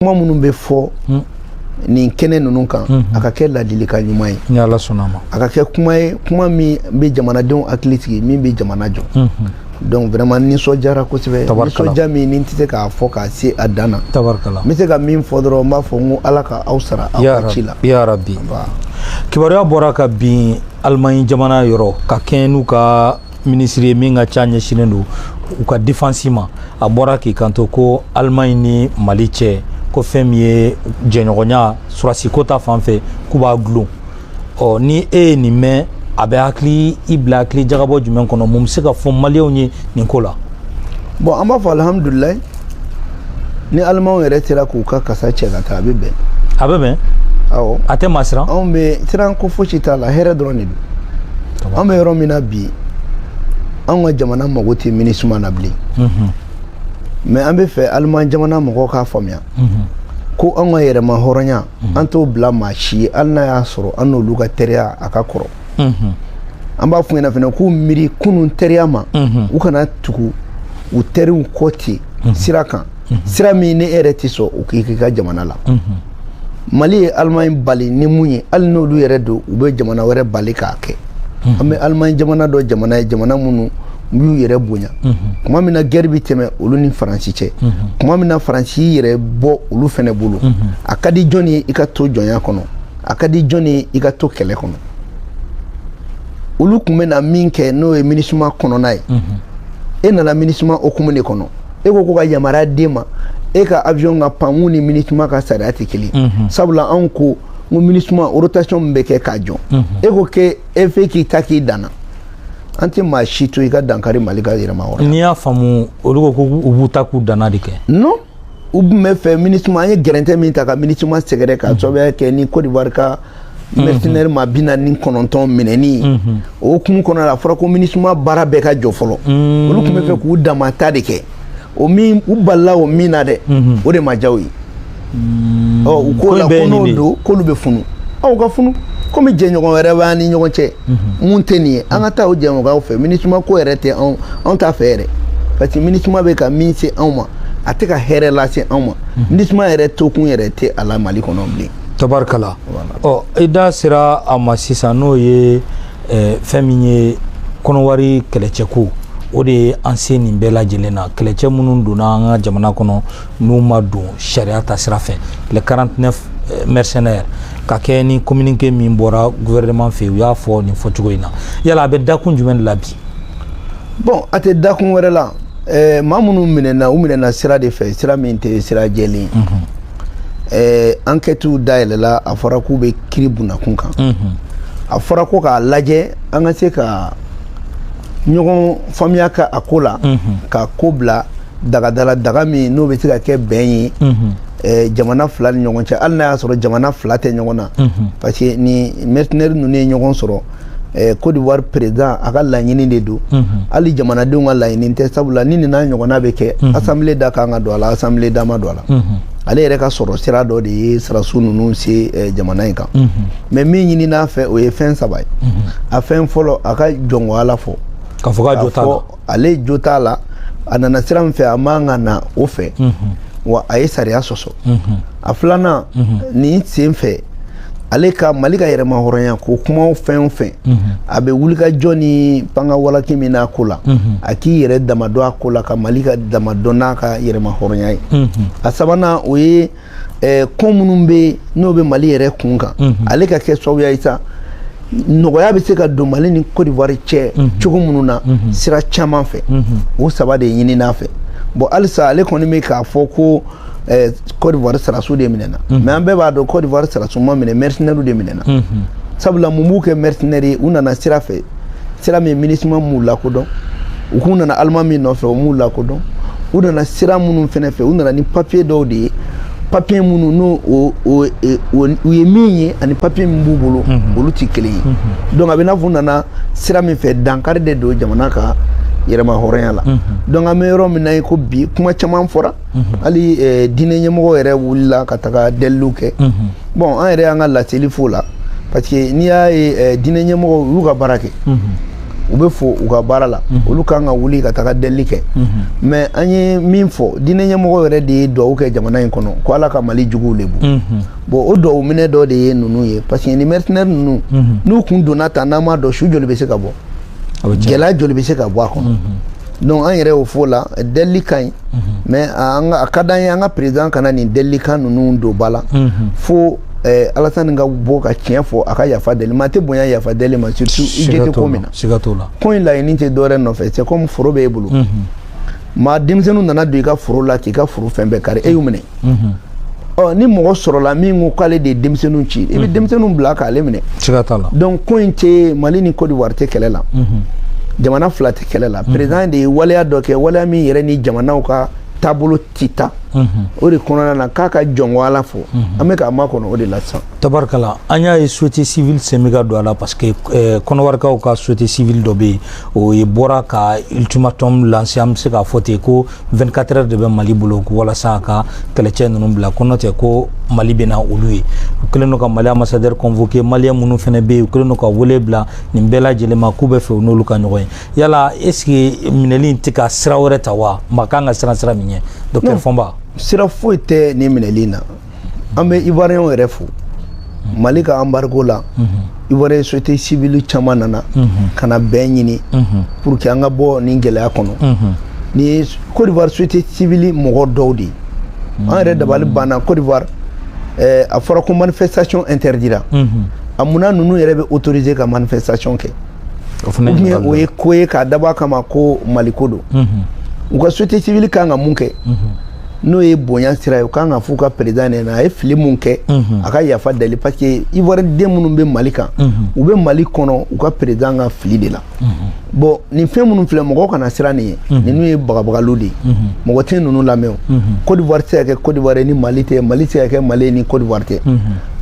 kuma minnu bɛ fɔ hmm. nin kɛnɛ ninnu kan hmm. a ka kɛ ladilikan ɲuman ye a ka kɛ kuma ye kuma min bɛ jamanadenw hakili sigi min bɛ jamana jɔ hmm. donc vraiment nisɔndiyara kosɛbɛ nisɔndiya min ni n tɛ se k'a fɔ k'a se a dan na n bɛ se ka min fɔ dɔrɔn n b'a fɔ n ko ala ka aw sara aw ka ci la kibaruya bɔra kabini alimaɲi jamana yɔrɔ ka kɛɲɛ n'u ka minisiri ye min ka ca ɲɛsinnen don u ka defansi ma a bɔra k'i kanto ko alimaɲi ni mali cɛ ko fɛn min ye jɛɲɔgɔnya sɔrɔdasiko ta fan fɛ k'u b'a dulon ɔ ni e ye nin mɛn a bɛ hakili i bila hakili jagabɔ jumɛn kɔnɔ mun bɛ se ka fɔ maliyɛnw ye nin ko la bon an b'a fɔ alihamudulilayi ni alimanw yɛrɛ sera k'u ka kasa cɛ ka taa a bɛ bɛn a bɛ bɛn awɔ a tɛ maa siran anw bɛ siran ko fosi t'a la hɛrɛ dɔrɔn de don an bɛ yɔrɔ min na bi anw ka jamana mago tɛ minisuma na bilen mhm. mais an bɛ fɛ aliman jamana mɔgɔw k'a faamuya mhm. ko anw ka yɛrɛmahɔrɔnya mhm. an t'o bila maa si ye hali n'a y'a sɔrɔ an n'olu ka teriya a ka kɔrɔ an b'a f'u ɲɛna fana k'u miiri kunun teriya ma u kana tugu u teriw kɔ ten sira kan sira min ni e yɛrɛ tɛ sɔn u k'a k'i ka jamana la mali ye alimaɲi bali ni mun ye hali n'olu yɛrɛ don u bɛ jamana wɛrɛ bali k'a kɛ an bɛ alimaɲi jamana dɔn jamana ye jamana minnu u y'u yɛrɛ bonya kuma min na gɛri bɛ tɛmɛ olu ni faransi cɛ kuma min na faransi yɛrɛ b'olu fana bolo a ka di jɔn ye i ka to jɔnya kɔnɔ a ka di jɔn ye i ka to kɛlɛ kɔnɔ olu tun bɛna min kɛ n'o ye minisuma kɔnɔna ye e nana minisuma hukumu de kɔnɔ e ko ko ka yamaruya d'e ma e ka avion ka pan min ni minisuma ka sariya tɛ kelen sabula anw ko n ko minisuma rotation min bɛ kɛ k'a jɔ e ko k'e fɛ k'i ta k'i dan na an tɛ maa si to i ka dankari mali ka yɛrɛmahɔrɔnya n'i y'a faamu olu ko ko u b'u ta k'u dan na de kɛ non u tun bɛ fɛ minisuma an ye gɛrɛntɛ min ta ka minisuma sɛgɛrɛ ka sababuya kɛ ni Côte d'Ivoire ka mercenaire maa bi naani ni kɔnɔntɔn minɛni o hukumu kɔnɔ la a fɔra ko minisuma baara bɛɛ ka jɔ fɔlɔ olu tun bɛ fɛ k'u dama ta de kɛ o min u balila o min na dɛ o de ma diya u ye ɔ u k'o la ko n'o don k'olu bɛ funu aw ka funu komi jɛɲɔgɔn wɛrɛ b'an ni ɲɔgɔn cɛ min tɛ nin ye an ka taa o jɛɲɔgɔnw fɛ minisuma ko yɛrɛ tɛ anw anw t'a fɛ yɛrɛ parce que minisuma bɛ ka min se anw ma a tɛ ka hɛrɛ lase anw ma minisuma yɛrɛ tokun yɛrɛ tɛ a la mali kɔnɔ bilen tabarikala ɔ i da sera a ma sisan n'o ye eh, fɛn min ye kɔnɔwari kɛlɛcɛko o de ye an se nin bɛɛ lajɛlen na kɛlɛcɛ minnu donna an ka jamana kɔnɔ n'u ma don sariya ta sira fɛ les 49 eh, mercenaires ka kɛ ni communiqué min bɔra gouvernement fɛ u y'a fɔ nin fɔcogo in na yala a bɛ dakun jumɛn de la bi bon a tɛ dakun wɛrɛ la eh, maa minnu minɛna u minɛna sira de fɛ sira min tɛ sira jɛlen mm -hmm. eh, enquêtew dayɛlɛla a fɔra k'u bɛ kiri bin a kun kan mm -hmm. a fɔra ko k'a lajɛ an ka se ka ɲɔgɔn faamuya ka a ko la mm -hmm. ka ko bila daga dɔ la daga min n'o bɛ se ka kɛ bɛn ye eh, jamana fila ni ɲɔgɔn cɛ hali n'a y'a sɔrɔ jamana fila tɛ ɲɔgɔn na parce que ni mercenaires ninnu ye ɲɔgɔn sɔrɔ eh, Côte d'Ivoire président a ka laɲini de don hali jamanadenw ka laɲini tɛ sabula ni nin n'a ɲɔgɔnna bɛ kɛ assemblée da kan ka don a la assemblée da ma don a la ale yɛrɛ ka sɔrɔ sira dɔ de ye sarasu ninnu se eh, jamana in kan mais min ɲinin'a fɛ o ye fɛn saba ye a fɛn fɔlɔ a ka jɔn ko ala fɔ k'a fɔ k'a jo t'a la ale jo t'a la a nana sira min fɛ a man ka na o fɛ wa a ye sariya sɔsɔ a filanan nin sen fɛ ale ka mali ka yɛrɛmahɔrɔnya ko kumaw fɛn o fɛn a bɛ wulikajɔ ni pankawalaki min n'a ko la a k'i yɛrɛ dama dɔn a ko la ka mali ka dama dɔn n'a ka yɛrɛmahɔrɔnya ye a sabanan o ye ɛɛ ko minnu bɛ n'o bɛ mali yɛrɛ kun kan ale ka kɛ sababuya ye sa nɔgɔya bɛ se ka don mali ni Côte d'Ivoire cɛ cogo minnu na sira caman fɛ o saba de ɲinin'a fɛ bon halisa ale kɔni bɛ k'a fɔ ko ɛɛ Côte d'Ivoire sarasu de minɛna mais an bɛɛ b'a dɔn Côte d'Ivoire sarasu ma minɛ mercenaires de minɛna sabula mun b'u kɛ mercenaires ye u nana sira fɛ sira min MINUSMA m'u lakodɔn u k'u nana allemand min nɔfɛ o m'u lakodɔn u nana sira minnu fɛnɛ fɛ u nana ni papiye dɔw de ye papiye minnu n'o o o e, o u ye min ye ani papiye min b'u bolo mhm. olu ti kelen ye mhm. donc a bɛ n'a fɔ u nana sira min fɛ dankari de don jamana ka yɛrɛmahɔrɔnya la mhm. donc an bɛ yɔrɔ min na ye ko bi kuma caman fɔra mhm. hali eh, diinɛ ɲɛmɔgɔ yɛrɛ wulila ka taga delili kɛ mhm. bon an yɛrɛ y'an ka laseli fɔ o la parce que n'i y'a ye eh, diinɛ ɲɛmɔgɔw y'u ka baara kɛ u bɛ fo u ka baara la olu kan ka wuli ka taga deli kɛ mais an ye min fɔ diinɛ ɲɛmɔgɔ yɛrɛ de ye dugawu kɛ jamana in kɔnɔ ko ala ka mali juguw lebu bon o dugawu minɛ dɔ de ye ninnu ye parce que ni mercenaires ninnu n'u kun donna tan n'an m'a dɔn su joli bɛ se ka bɔ gɛlɛya joli bɛ se ka bɔ a kɔnɔ donc an yɛrɛ y'o fɔ o la delili ka ɲi mais a ka d'an ye an ka président kana nin delilikan ninnu don ba la fo eh, alasani ka bɔ ka tiɲɛ fɔ a ka yafa deli maa tɛ bonya yafa deli ma surtout i jo tɛ ko min na ko in laɲini tɛ dɔwɛrɛ nɔfɛ c'est comme foro b'e bolo maa denmisɛnninw nana don i ka foro la k'i ka foro fɛn bɛɛ kari e y'u minɛ ɔ ni mɔgɔ sɔrɔla min ko k'ale de ye denmisɛnninw ci i bɛ denmisɛnninw bila k'ale minɛ siga t'a la donc ko in tɛ mali ni cote d'ivoire tɛ kɛlɛ la jamana fila tɛ kɛlɛ la président de ye waleya dɔ kɛ waleya min yɛrɛ ni jamanaw ka taabolo tɛ taa o de kɔnɔna na k'a ka jɔnko ala fɔ an bɛ k'a makɔnɔ o de la sisan tabarikala an y'a ye société civile sen bɛ ka don a la parce que eh, kɔnɔwarikaw ka société civile dɔ bɛ yen o ye bɔra ka ultimatum lancer an bɛ se k'a fɔ ten ko 24 heures de bɛ mali bolo walasa a ka kɛlɛcɛ ninnu bila ko n'o tɛ ko mali bɛna olu ye u kɛlen don ka mali ambassadeur convoqué maliyɛn minnu fana bɛ yen u kɛlen don ka wele bila nin bɛɛ lajɛlen ma k'u b'a fɛ u n'olu ka ɲɔgɔn ye yala est ce que minɛli in tɛ ka sira wɛrɛ ta wa maa kan ka siran sira min ɲɛ docteur fɔnba sira foyi tɛ nin minɛli in na an bɛ ivoirienw yɛrɛ fo mali ka embargo la ivoirien société civile caman nana ka na bɛn ɲini pour que an ka bɔ nin gɛlɛya kɔnɔ nin ye cote d'ivoire société civile mɔgɔ dɔw de ye an yɛrɛ dabali banna cote d'ivoire eh, a fɔra ko manifestation interdira a munna ninnu yɛrɛ bɛ autoriser ka manifestation kɛ o fana ye o ye ko ye k'a dabɔ a kama ko maliko don u ka société civile kan ka mun kɛ n'o ye bonya sira ye u kan ka f'u ka président ɲɛna a ye fili mun kɛ a ka yafa deli parce que ivoirien den minnu bɛ mali kan u bɛ mali kɔnɔ u ka président ka fili de la bon nin fɛn minnu filɛ mɔgɔw kana siran nin ye ninnu ye bagabagaliw de ye mɔgɔ tɛ ninnu lamɛn o Côte d'Ivoire tɛ se ka kɛ Côte d'Ivoire ye ni Mali tɛ Mali tɛ se ka kɛ Mali ye ni Côte d'Ivoire tɛ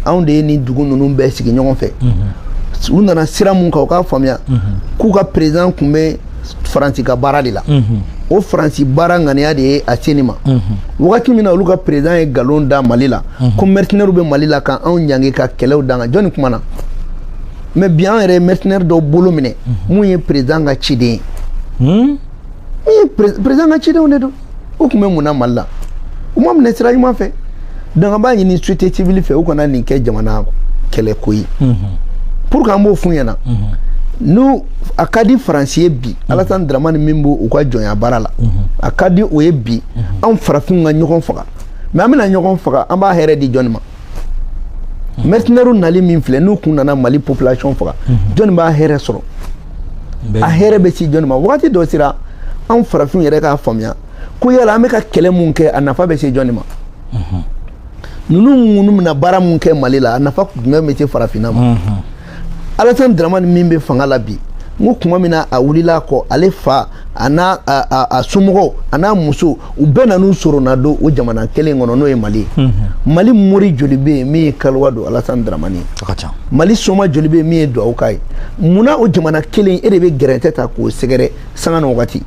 anw de ye nin dugu ninnu bɛɛ sigi ɲɔgɔn fɛ u nana sira mun kan u k'a faamuya k'u ka président kun bɛ faransi ka baara de la o faransi baara ŋaniya de ye a se nin ma wagati min na olu ka président ye nkalon da mali la ko mercenaires bɛ mali la ka anw ɲangi ka kɛlɛw da an kan jɔnni kumana mais bi an yɛrɛ ye mercenaire dɔ bolo minɛ mun ye président ka ciden ye président ka cidenw de don u kun bɛ mun na mali la u ma minɛ sira ɲuman fɛ donc an b'a ɲini société civile fɛ u kana nin kɛ jamana kɛlɛko ye pour que an b'o f'u ɲɛna n'a ka di faransi ye bi alasani dramani min b'o u ka jɔnya baara la a ka di o ye bi anw farafinw ka ɲɔgɔn faga mais an bɛna ɲɔgɔn faga an b'a hɛrɛ di jɔni ma mercenaires nali min filɛ n'u kun nana mali population faga jɔnni b'a hɛrɛ sɔrɔ a hɛrɛ bɛ se jɔnni ma wagati dɔ sera anw farafinw yɛrɛ k'a faamuya ko yala an bɛ ka kɛlɛ mun kɛ a nafa bɛ se jɔnni ma ninnu minnu bɛna baara mun kɛ mali la a nafa jumɛn bɛ se farafinna ma alasan dramani min bɛ fanga la bi n ko kuma min na a wulila a kɔ ale fa a n'a a somɔgɔw a n'a muso u bɛɛ nan'u soronna don o jamana kelen kɔnɔ n'o ye mali ye mhm. mali mori joli bɛ yen min ye kaliwa don alasan dramani ye mali soma joli bɛ yen min ye duwawu k'a ye munna o jamana kelen e de bɛ gɛrɛntɛ ta k'o sɛgɛrɛ sanga ni wagati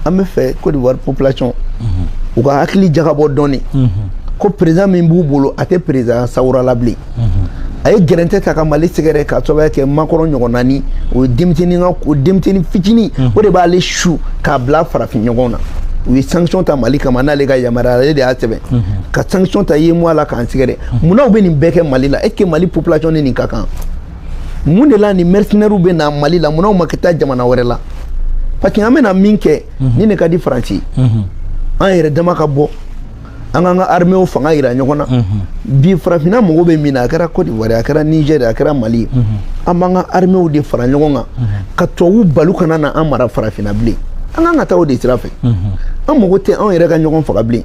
an b'a fɛ Côte d'Ivoire population mhm. u ka hakili jagabɔ dɔɔni mhm. ko président min b'u bolo a tɛ président sawura la bilen mhm. a ye gɛrɛntɛ ta ka mali sɛgɛrɛ ka sababuya kɛ Macron ɲɔgɔn naani o ye denmisɛnnin ka o denmisɛnnin fitinin o de b'ale su k'a bila farafin ɲɔgɔn na u ye sanction ta mali kama n'ale ka yamaruya ale de y'a sɛbɛn ka sanction ta UEMOA la k'an sɛgɛrɛ munna u bɛ nin bɛɛ kɛ mali la est ce que mali population ni nin ka kan mun de la ni mercenaires bɛ na mali la munna u ma ka taa jamana wɛrɛ la parce que an bɛna min kɛ mhm. nin de ka di faransi mhm. an yɛrɛ dama ka bɔ an k'an ka armée fanga yira ɲɔgɔn na mhm. bi farafinna mago bɛ min na a kɛra cote d'ivoire a kɛra niger a kɛra mali an b'an ka armée de fara ɲɔgɔn kan ka tubabu bali kana na an mara farafinna bilen an kan ka taa o de sira fɛ an mago tɛ anw yɛrɛ ka ɲɔgɔn faga bilen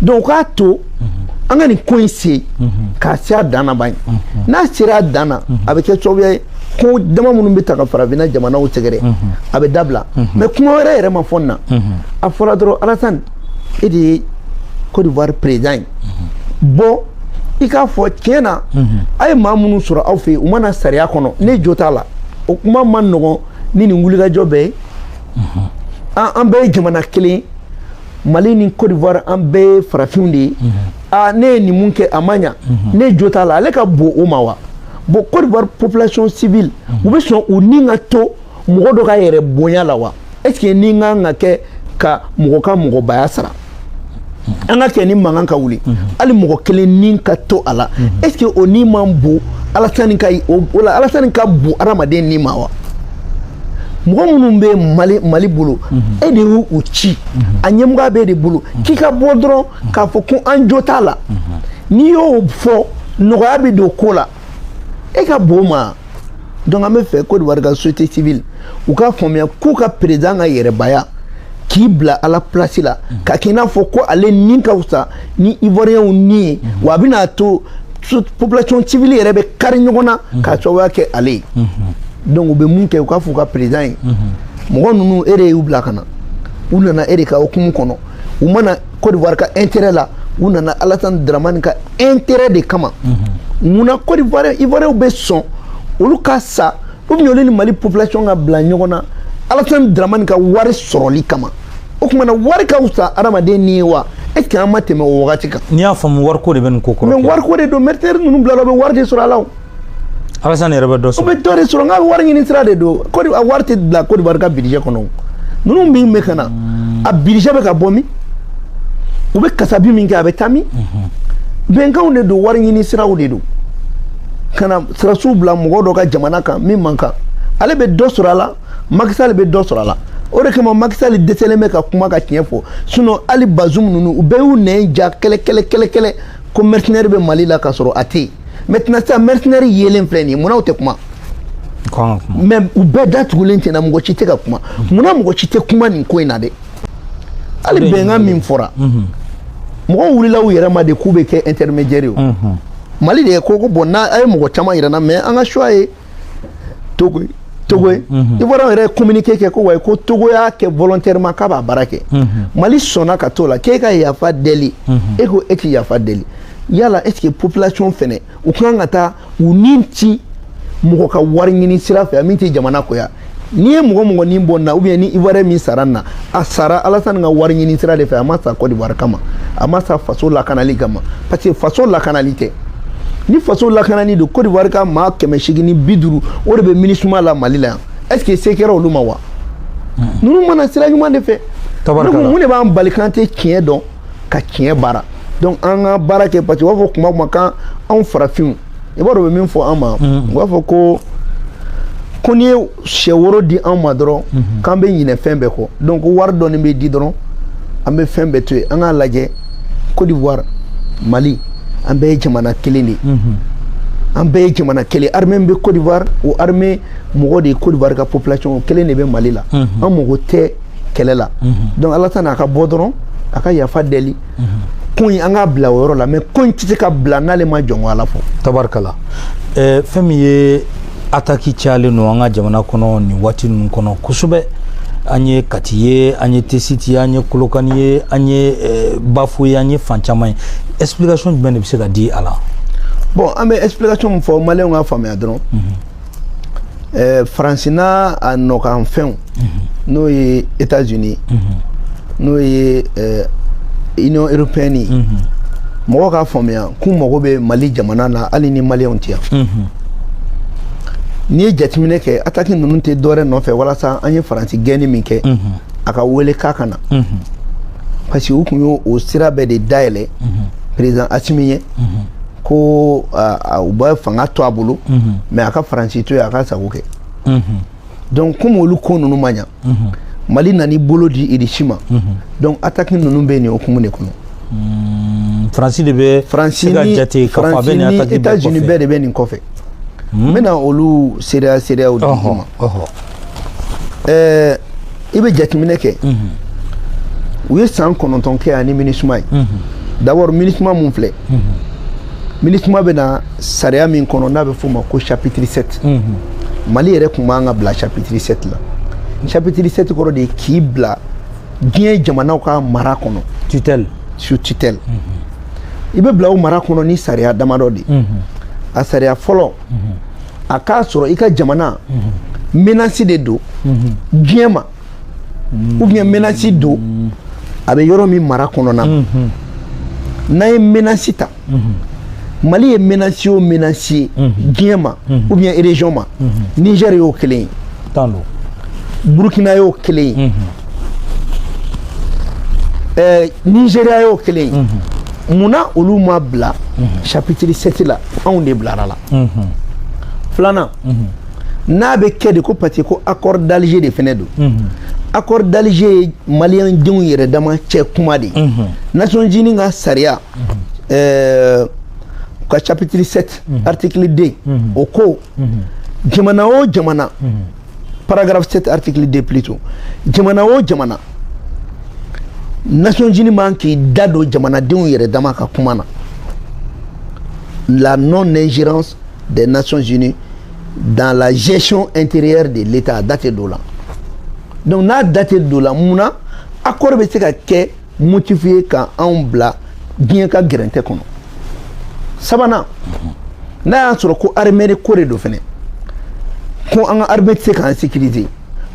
donc k'a to an ka nin ko in se k'a se a dan na ban n'a sera a dan na a bɛ kɛ sababuya ye ko dama minnu bɛ ta ka farafinna jamanaw sɛgɛrɛ a bɛ dabila mais kuma wɛrɛ yɛrɛ ma fɔ na a fɔra dɔrɔn alasani e de ye cote d'ivoire président ye bɔ i k'a fɔ tiɲɛ na a ye maa minnu sɔrɔ aw fɛ yen u ma na sariya kɔnɔ ne jo t'a la o kuma man nɔgɔn ni nin wulikajɔ bɛɛ ye an bɛɛ ye jamana kelen mali ni cote d'ivoire an bɛɛ ye farafinw de ye mhm. aa ne ye nin min kɛ a ma ɲa mhm. ne jo t'a la ale ka bon o ma wa bon cote d'ivoire population civile mhm. u bɛ sɔn u ni ka to mɔgɔ dɔ ka yɛrɛ bonya la wa est ce que nin ka kan ka kɛ ka mɔgɔ ka mɔgɔbaya sara an ka kɛ ni mankan ka wuli hali mɔgɔ kelen ni ka to a la est ce que o ni man bon alasani ka o la alasani ka bon adamaden ni ma wa mɔgɔ minnu bɛ mali bolo mhm. e de y'u ci mhm. a ɲɛmɔgɔya bɛ e de bolo mhm. k'i ka bɔ dɔrɔn k'a fɔ ko an jo t'a la n'i y'o fɔ nɔgɔya bɛ don ko la e ka bon ma donc an b'a fɛ Côte d'Ivoire ka société civile u k'a faamuya k'u ka président ka yɛrɛbaya k'i bila ala plasi la ka kɛ i n'a fɔ ko ale ni ka fisa ni ivoiriyɛnw ni ye wa a bɛna to population civile yɛrɛ bɛ kari ɲɔgɔn na mhm. k'a sababuya kɛ ale ye mhm. donc u bɛ mun kɛ u k'a fɔ u ka président ye mhm. mɔgɔ ninnu e de y'u bila ka na u nana e de ka hukumu kɔnɔ u ma na Côte d'Ivoire ka intérêt la u nana Alassane Dramane ka intérêt de kama munna Côte d'Ivoire Ivoiriyɛnw bɛ sɔn olu ka sa ou bien olu ni mali population ka bila ɲɔgɔn na alasani dramani ka wari sɔrɔli kama o tuma na wari ka fisa adamaden ni ye wa est ce que an ma tɛmɛ o wagati kan n'i y'a faamu wariko de bɛ nin ko kɔrɔ mais wariko de don mercenaires ninnu bila la u bɛ wari de sɔrɔ a la o alasani yɛrɛ bɛ dɔ sɔrɔ u bɛ dɔ de sɔrɔ n ka wari ɲini sira de don kɔdi a wari tɛ bila Côte d'Ivoire ka budget kɔnɔ o ninnu min bɛ ka na a budget bɛ ka bɔ min u bɛ kasabi min kɛ a bɛ taa min bɛnkanw de don wari ɲini siraw de don ka na sirasiw bila mɔgɔ dɔ ka jamana kan min man kan ale bɛ dɔ sɔrɔ a la Macky Sall bɛ dɔ sɔrɔ a la o de kama Macky Sall dɛsɛlen bɛ ka kuma ka tiɲɛ fɔ sinon hali Bazoum ninnu u bɛɛ y'u nɛn ja kɛlɛ kɛlɛ kɛlɛ kɛlɛ ko mercenaire bɛ Mali la ka sɔrɔ a tɛ yen maintenant sisan mercenaire yelen filɛ nin ye munna u tɛ kuma mais u bɛɛ datugulen tɛna mɔgɔ si tɛ ka kuma munna mɔgɔ si tɛ kuma nin ko in na dɛ hali bɛnkan min fɔra mhm. mɔgɔw wulila u yɛrɛ ma de k'u bɛ kɛ intermédiaire ye mhm. mali de ye ko ko bon n'a ye mɔgɔ caman yira an na mais an ka choix ye togo ye togo ye mhm. ivoiriyɛnw yɛrɛ ye communiqué kɛ ko wayi ko togo y'a kɛ volontairement k'a b'a baara kɛ mali sɔnna ka t'o la k'e ka yafa deli e ko e tɛ yafa deli yala est ce que population fɛnɛ u kan ka taa u ni ci mɔgɔ ka wari ɲini sira fɛ min tɛ jamana ko ye n'i ye mɔgɔ mɔgɔ ni bɔ na ou bien ni ivoirien min sara na a sara alasani ka wari ɲini sira de fɛ a ma sa kɔdiwari kama a ma sa faso lakanali kama parce que faso lakanali tɛ ni faso lakanani don kɔdiwari ka maa kɛmɛ seegin ni bi duuru o de bɛ MINUSMA la mali la yan est ce que se kɛra olu ma wa ninnu ma na sira ɲuman de fɛ mun de b'an bali k'an tɛ tiɲɛ dɔn ka tiɲɛ baara donc an ka baara kɛ parce que u b'a fɔ kuma o kuma kan anw farafinw i b'a dɔn u bɛ min fɔ an ma u b'a fɔ ko ko n'i ye sɛ woro di an ma dɔrɔn k'an bɛ ɲinɛ fɛn bɛɛ kɔ donc wari dɔɔni bɛ di dɔrɔn an bɛ fɛn bɛɛ to yen an k'a lajɛ Côte d'Ivoire Mali an bɛɛ ye jamana kelen de ye an bɛɛ ye jamana kelen armée min bɛ Côte d'Ivoire o armée mɔgɔ de ye Côte d'Ivoire ka population kelen de bɛ Mali la an mago tɛ kɛlɛ la donc alasani a ka bɔ dɔrɔn a ka yafa deli ko in an k'a bila o yɔrɔ la mais ko in tɛ se ka bila n'ale ma jɔn ko ala fɔ tabarikala eh, fɛn min ye ataki cayalen don an ka jamana kɔnɔ nin waati ninnu kɔnɔ kosɛbɛ an ye kati ye an ye tesiti ye an ye kolokani ye an ye eh, bafo ye an ye fan caman ye explication jumɛn de bɛ se ka di a la bon an bɛ explication min fɔ maliyɛnw k'a faamuya dɔrɔn eh, faransi n'a nɔkan fɛnw n'o ye états unis n'o ye eh, union européenne ye mɔgɔw k'a faamuya k'u mago bɛ mali jamana na hali ni maliyɛnw tɛ yan n'i ye jateminɛ kɛ ataki ninnu tɛ dɔwɛrɛ nɔfɛ walasa an ye faransi gɛnni min kɛ an k'a wele k'a ka na parce que u tun y'o sira bɛɛ de dayɛlɛ président asimi ye ko u bɛ fanga to a bolo mais a ka faransi to yen a ka sago kɛ donc comme olu ko ninnu ma ɲa mali nana bolo di irisi ma donc ataki ninnu bɛ nin o hukumu de kɔnɔ faransi de bɛ se ka jate k'a fɔ a bɛ nin ataki bɛɛ kɔfɛ états unis bɛɛ de bɛ nin kɔfɛ n bɛna olu seereya seereyaw di i ma ɛɛ i bɛ jateminɛ kɛ u ye san kɔnɔntɔn kɛ yan ni minisuma ye d'abord minisuma mun filɛ minisuma bɛ na sariya min kɔnɔ n'a bɛ f'o ma ko chapitre 7 mali yɛrɛ kun man ka bila chapitre 7 la chapitre 7 kɔrɔ de ye k'i bila diɲɛ jamanaw ka mara kɔnɔ tutelle sous tutelle i bɛ bila o mara kɔnɔ ni sariya damadɔ de ye a sariya fɔlɔ a k'a sɔrɔ i ka jamana menasi de don diɲɛ ma ou bien menasi don a bɛ yɔrɔ min mara kɔnɔna n'an ye menasi ta mali ye menasi o menasi ye diɲɛ ma ou bien région ma niger y'o kelen ye burkina y'o kelen ye eh, nigeria y'o kelen ye munna olu ma bila mhm. chapitre 7 la anw de bilar'a la mhm. filanan mhm. n'a bɛ kɛ de ko parce que ko accord d'Alger de fɛnɛ don accord d'Alger ye maliyɛn denw yɛrɛ dama cɛ kuma de ye Nations Unies ka sariya ɛɛ ka chapitre 7 article 2 o ko jamana o jamana paragraphe 7 article 2 plutôt jamana o jamana nations unies man k'i da don jamanadenw yɛrɛ dama ka kuma na la non ingérence des nations unies dans la gestion intérieure de l'état a da tɛ don o la donc n'a da tɛ don o la mun na accord bɛ se ka kɛ motif ye ka anw bila diɲɛ ka gɛrɛntɛ kɔnɔ sabanan n'a y'a sɔrɔ ko armée ko de don fɛnɛ ko an ka armée tɛ se k'an sécuriser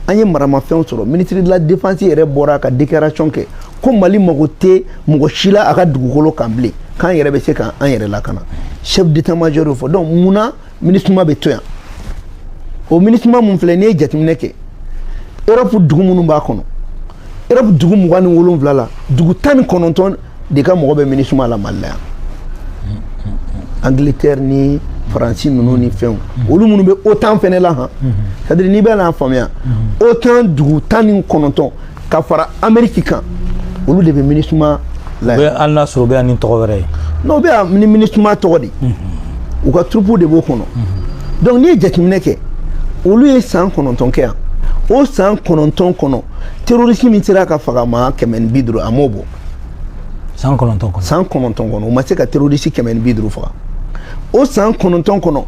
an ye maramafɛnw sɔrɔ ministre de la défense yɛrɛ bɔra ka déclaration kɛ ko mali mago tɛ mɔgɔ si la a ka dugukolo kan bilen k'an yɛrɛ bɛ se k'an yɛrɛ lakana chef d'état major y'o fɔ donc mun na minisuma bɛ to yan o minisuma mun filɛ n'i ye jateminɛ kɛ europe dugu minnu b'a kɔnɔ europe dugu mugan ni wolonwula la dugu tan ni kɔnɔntɔn de ka mɔgɔ bɛ minisuma la mali la yan angleterre ni faransi ninnu ni fɛnw olu minnu bɛ otan fɛnɛ la han c'est à dire n'i bɛ n'a faamuya otan dugu tan ni kɔnɔntɔn ka fara ameriki kan olu de bɛ minisuma la yan hali n'a sɔrɔ u bɛ yan ni tɔgɔ wɛrɛ ye n'u bɛ yan ni minisuma tɔgɔ de mhm. u ka turupu de b'o kɔnɔ mhm. donc n'i ye jateminɛ kɛ olu ye san kɔnɔntɔn kɛ yan o san kɔnɔntɔn kɔnɔ terorisi min sera ka faga maa kɛmɛ ni bi duuru a m'o bɔ san kɔnɔntɔn kɔnɔ san kɔnɔntɔn kɔnɔ u ma se ka terorisi kɛmɛ ni bi duuru faga o san kɔnɔntɔn kɔnɔ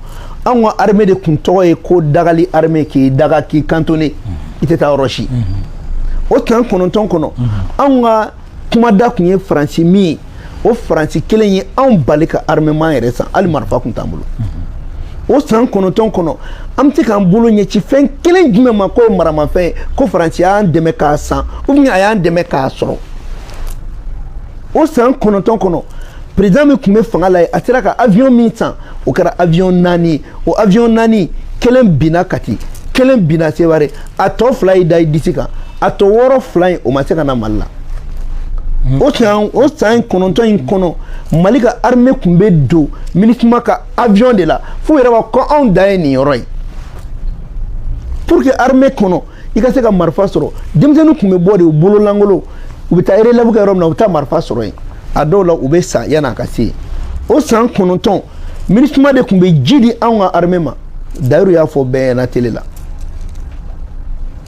anw ka armée de kun tɔgɔ ye ko dagali armée k'i daga k'i cantonner mhm. i tɛ taa yɔrɔ si o san kɔnɔntɔn kɔnɔ anw ka kumada kun ye faransi min ye o faransi kelen ye anw bali ka armement yɛrɛ san hali marifa kun t'an bolo o san kɔnɔntɔn kɔnɔ an bɛ se k'an bolo ɲɛci fɛn kelen jumɛn ma k'o ye maramafɛn ye ko faransi y'an dɛmɛ k'a san ou bien a y'an dɛmɛ k'a sɔrɔ o san kɔnɔntɔn kɔnɔ président min kun bɛ fanga la ye a sera ka avion min san o kɛra avion naani ye o avion naani kelen binna kati kelen binna seware a tɔ fila y'i da i disi kan a tɔ wɔɔrɔ fila in o ma se ka na mali la o san o san kɔnɔntɔn in kɔnɔ mali ka armée kun bɛ don minisuma ka avion de la f'u yɛrɛ b'a fɔ ko anw dan ye nin yɔrɔ ye pour que armée kɔnɔ i ka se ka marifa sɔrɔ denmisɛnninw kun bɛ bɔ de u bolo lankolon u bɛ taa relève kɛ yɔrɔ min na u bɛ taa marifa sɔrɔ yen a dɔw la u bɛ sa yan'a ka se yen o san kɔnɔntɔn minisuma de kun bɛ ji di anw ka armée ma dayiru y'a fɔ bɛɛ ɲɛna tele la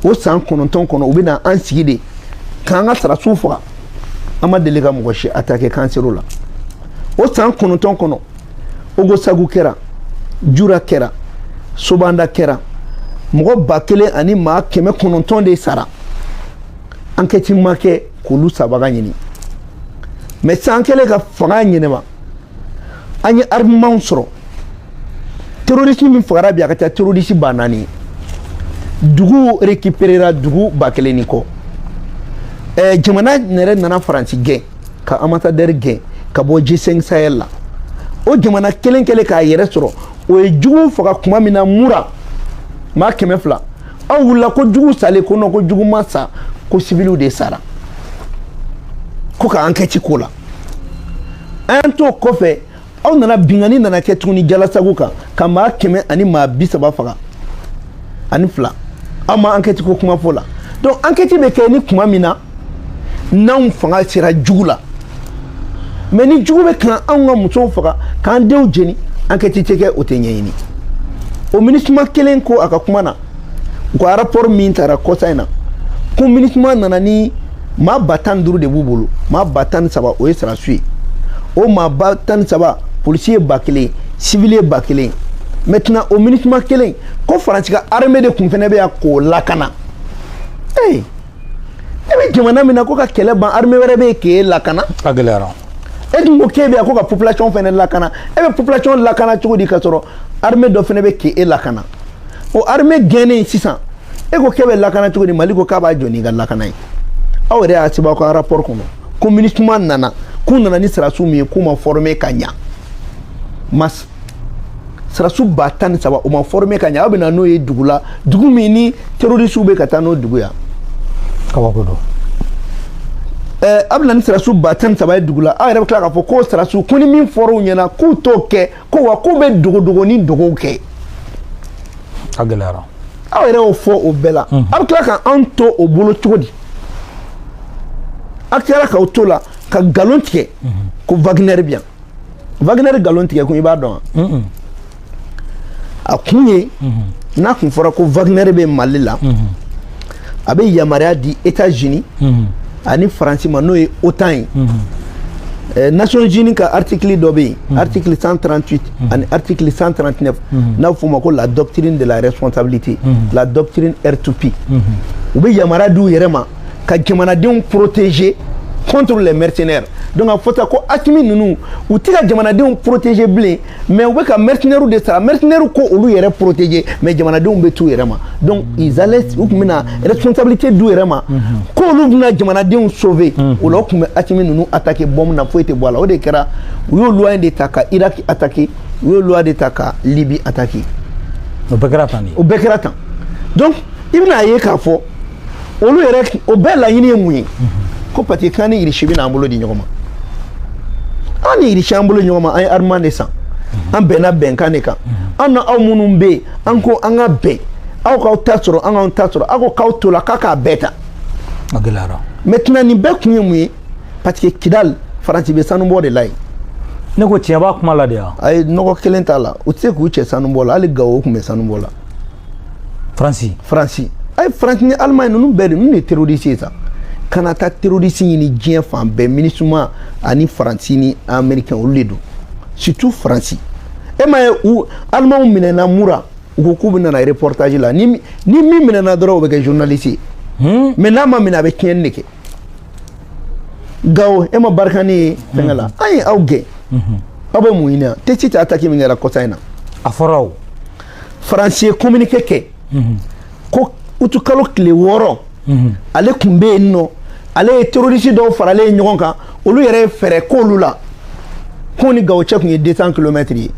o san kɔnɔntɔn kɔnɔ u bɛ na an sigi de k'an ka sarasiw faga an ma deli ka mɔgɔ si attaquer k'an ser'o la o san kɔnɔntɔn kɔnɔ ogosagu kɛra jura kɛra sobanda kɛra mɔgɔ ba kelen ani maa kɛmɛ kɔnɔntɔn de sara ankɛti ma kɛ k'olu sabaga ɲini mɛ san kelen ka fanga ɲɛnɛma an ye armement sɔrɔ terorisi min fagara bi a ka ca terorisi ba naani ye dugu rekiperera dugu ba kelen ni kɔ ɛɛ jamana yɛrɛ nana faransi gɛn ka ambassadeur gɛn ka bɔ G5 Sahel la o jamana kelen kɛlen k'a yɛrɛ sɔrɔ o ye jugu faga kuma min na mura maa kɛmɛ fila aw wulila ko jugu salen ko non ko jugu ma sa ko siviliw de sara ko ka ankɛti k'o la an y'a to kɔfɛ aw nana binkanni nana kɛ tuguni jalasagu kan ka maa kɛmɛ ani maa bi saba faga ani fila aw ma ankɛti ko kuma f'o la donc ankɛti bɛ kɛ ni kuma min na n'anw fanga sera jugu la mɛ ni jugu bɛ ka anw ka musow faga k'an denw jeni ankɛti tɛ kɛ o tɛ ɲɛɲini o minisuma kelen ko a ka kuma na u ka rapport min taara kɔsa in na ko minisuma nana ni maa ba tan ni duuru de b'u bolo maa ba tan ni saba o ye sarasi ye o maa ba tan ni saba polisi ye ba kelen sivili ye ba kelen maintenant o minisuma kelen ko faransi ka armée de kun fana bɛ yan k'o lakana ee eh, e bɛ jamana min na ko ka kɛlɛ ban armée wɛrɛ bɛ yen k'e lakana a gɛlɛyara e dun ko k'e bɛ yan ko ka population fana lakana e bɛ population lakana cogo di ka sɔrɔ armée dɔ fana bɛ k'e lakana o armée gɛnnen sisan e ko k'e bɛ lakana cogo di mali ko k'a b'a jɔ n'i ka lakana ye aw yɛrɛ y'a sɛbɛn aw ka rapport kɔnɔ ko minisuma nana k'u nana ni sɔrɔdasi min ye k'u ma former ka ɲa mais sɔrɔdasi ba tan ni saba u ma former ka ɲa aw bɛna n'o ye dugu la dugu min ni terrorisiw bɛ ka taa n'o dugu ye a kabako don ɛɛ aw bɛna ni sɔrɔdasi ba tan ni saba ye dugu la aw yɛrɛ bɛ tila k'a fɔ k'o sɔrɔdasiw ko ni min fɔr'u ɲɛna k'u t'o kɛ ko wa k'u bɛ dogodogo ni dogow kɛ a gɛlɛyara aw yɛrɛ y'o fɔ o bɛɛ la a bɛ tila ka an to o bolo cogo di a tilara k'aw to la ka nkalon tigɛ ko wagner bɛ yan wagner nkalon tigɛ kun i b'a dɔn wa a kun ye n'a kun fɔra ko wagner bɛ mali la a bɛ yamaruya di Etats-Unis mhm. ani Faransi ma n'o ye OTAN ye mhm. eh, Nations Unies ka article dɔ bɛ yen mhm. article 138 ani article 139 n'a bɛ f'o ma ko la doctrine de la responsabilité la doctrine R2P u bɛ yamaruya di u yɛrɛ ma ka jamanadenw protéger contre les mercenaires donc a fɔta ko Asimi ninnu u tɛ ka jamanadenw protéger bilen. mais u bɛ ka mercenaires de sara mercenaires k'olu yɛrɛ protéger mais jamanadenw bɛ t'u yɛrɛ ma donc ils allaient u tun bɛna responsabilité d'u yɛrɛ ma k'olu bɛna jamanadenw sauver o la u tun bɛ Asimi ninnu attaquer bombe na foyi tɛ bɔ a la o de kɛra u y'o loi de ta ka Irak attaquer u y'o loi de ta ka Libye attaquer o bɛɛ kɛra tan de o bɛɛ kɛra tan donc i bɛna ye k'a fɔ olu yɛrɛ o bɛɛ laɲini ye mun ye ko parce que k'an ni irisi bɛna an bolo di ɲɔgɔn ma an ni irisi an bolo ɲɔgɔn ma an ye armement de san an bɛnna bɛnkan de kan an ni aw minnu bɛ yen an ko an ka bɛn aw k'aw ta sɔrɔ an k'anw ta sɔrɔ aw ko k'aw to la k'a k'a bɛɛ ta a gɛlɛyara maintenant nin bɛɛ kun ye mun ye parce que kidali faransi bɛ sanubɔ de la yen ne ko tiɲɛ b'a kuma la de wa ayi nɔgɔ kelen t'a la u tɛ se k'u cɛ sanubɔ la hali gawo tun bɛ sanubɔ la faransi faransi a ye faransi ni alimaɲi ninnu bɛɛ de ninnu ye terorisi ye sa kana taa terorisi ɲini diɲɛ fan bɛɛ minisuma ani faransi ni amerikɛn olu de don surtout faransi e m'a ye u alimanw minɛna mura u ko k'u bɛ nana reportage la ni ni min minɛna dɔrɔn o bɛ kɛ journaliste ye hmm? mais n'a ma minɛ a bɛ tiɲɛni de kɛ gawo e ma barkhane ye fɛngɛ la an ye aw gɛn aw bɛ mun ɲini yan tɛsiti ataki min kɛra kɔsa in na a fɔra o faransi ye kominike kɛ ko utukalo tile wɔɔrɔ ale tun bɛ yen nɔ ale ye terorisi dɔw faralen ye ɲɔgɔn kan olu yɛrɛ ye fɛɛrɛ k'olu la k'u ni gawo cɛ tun ye 200 kilomɛtiri ye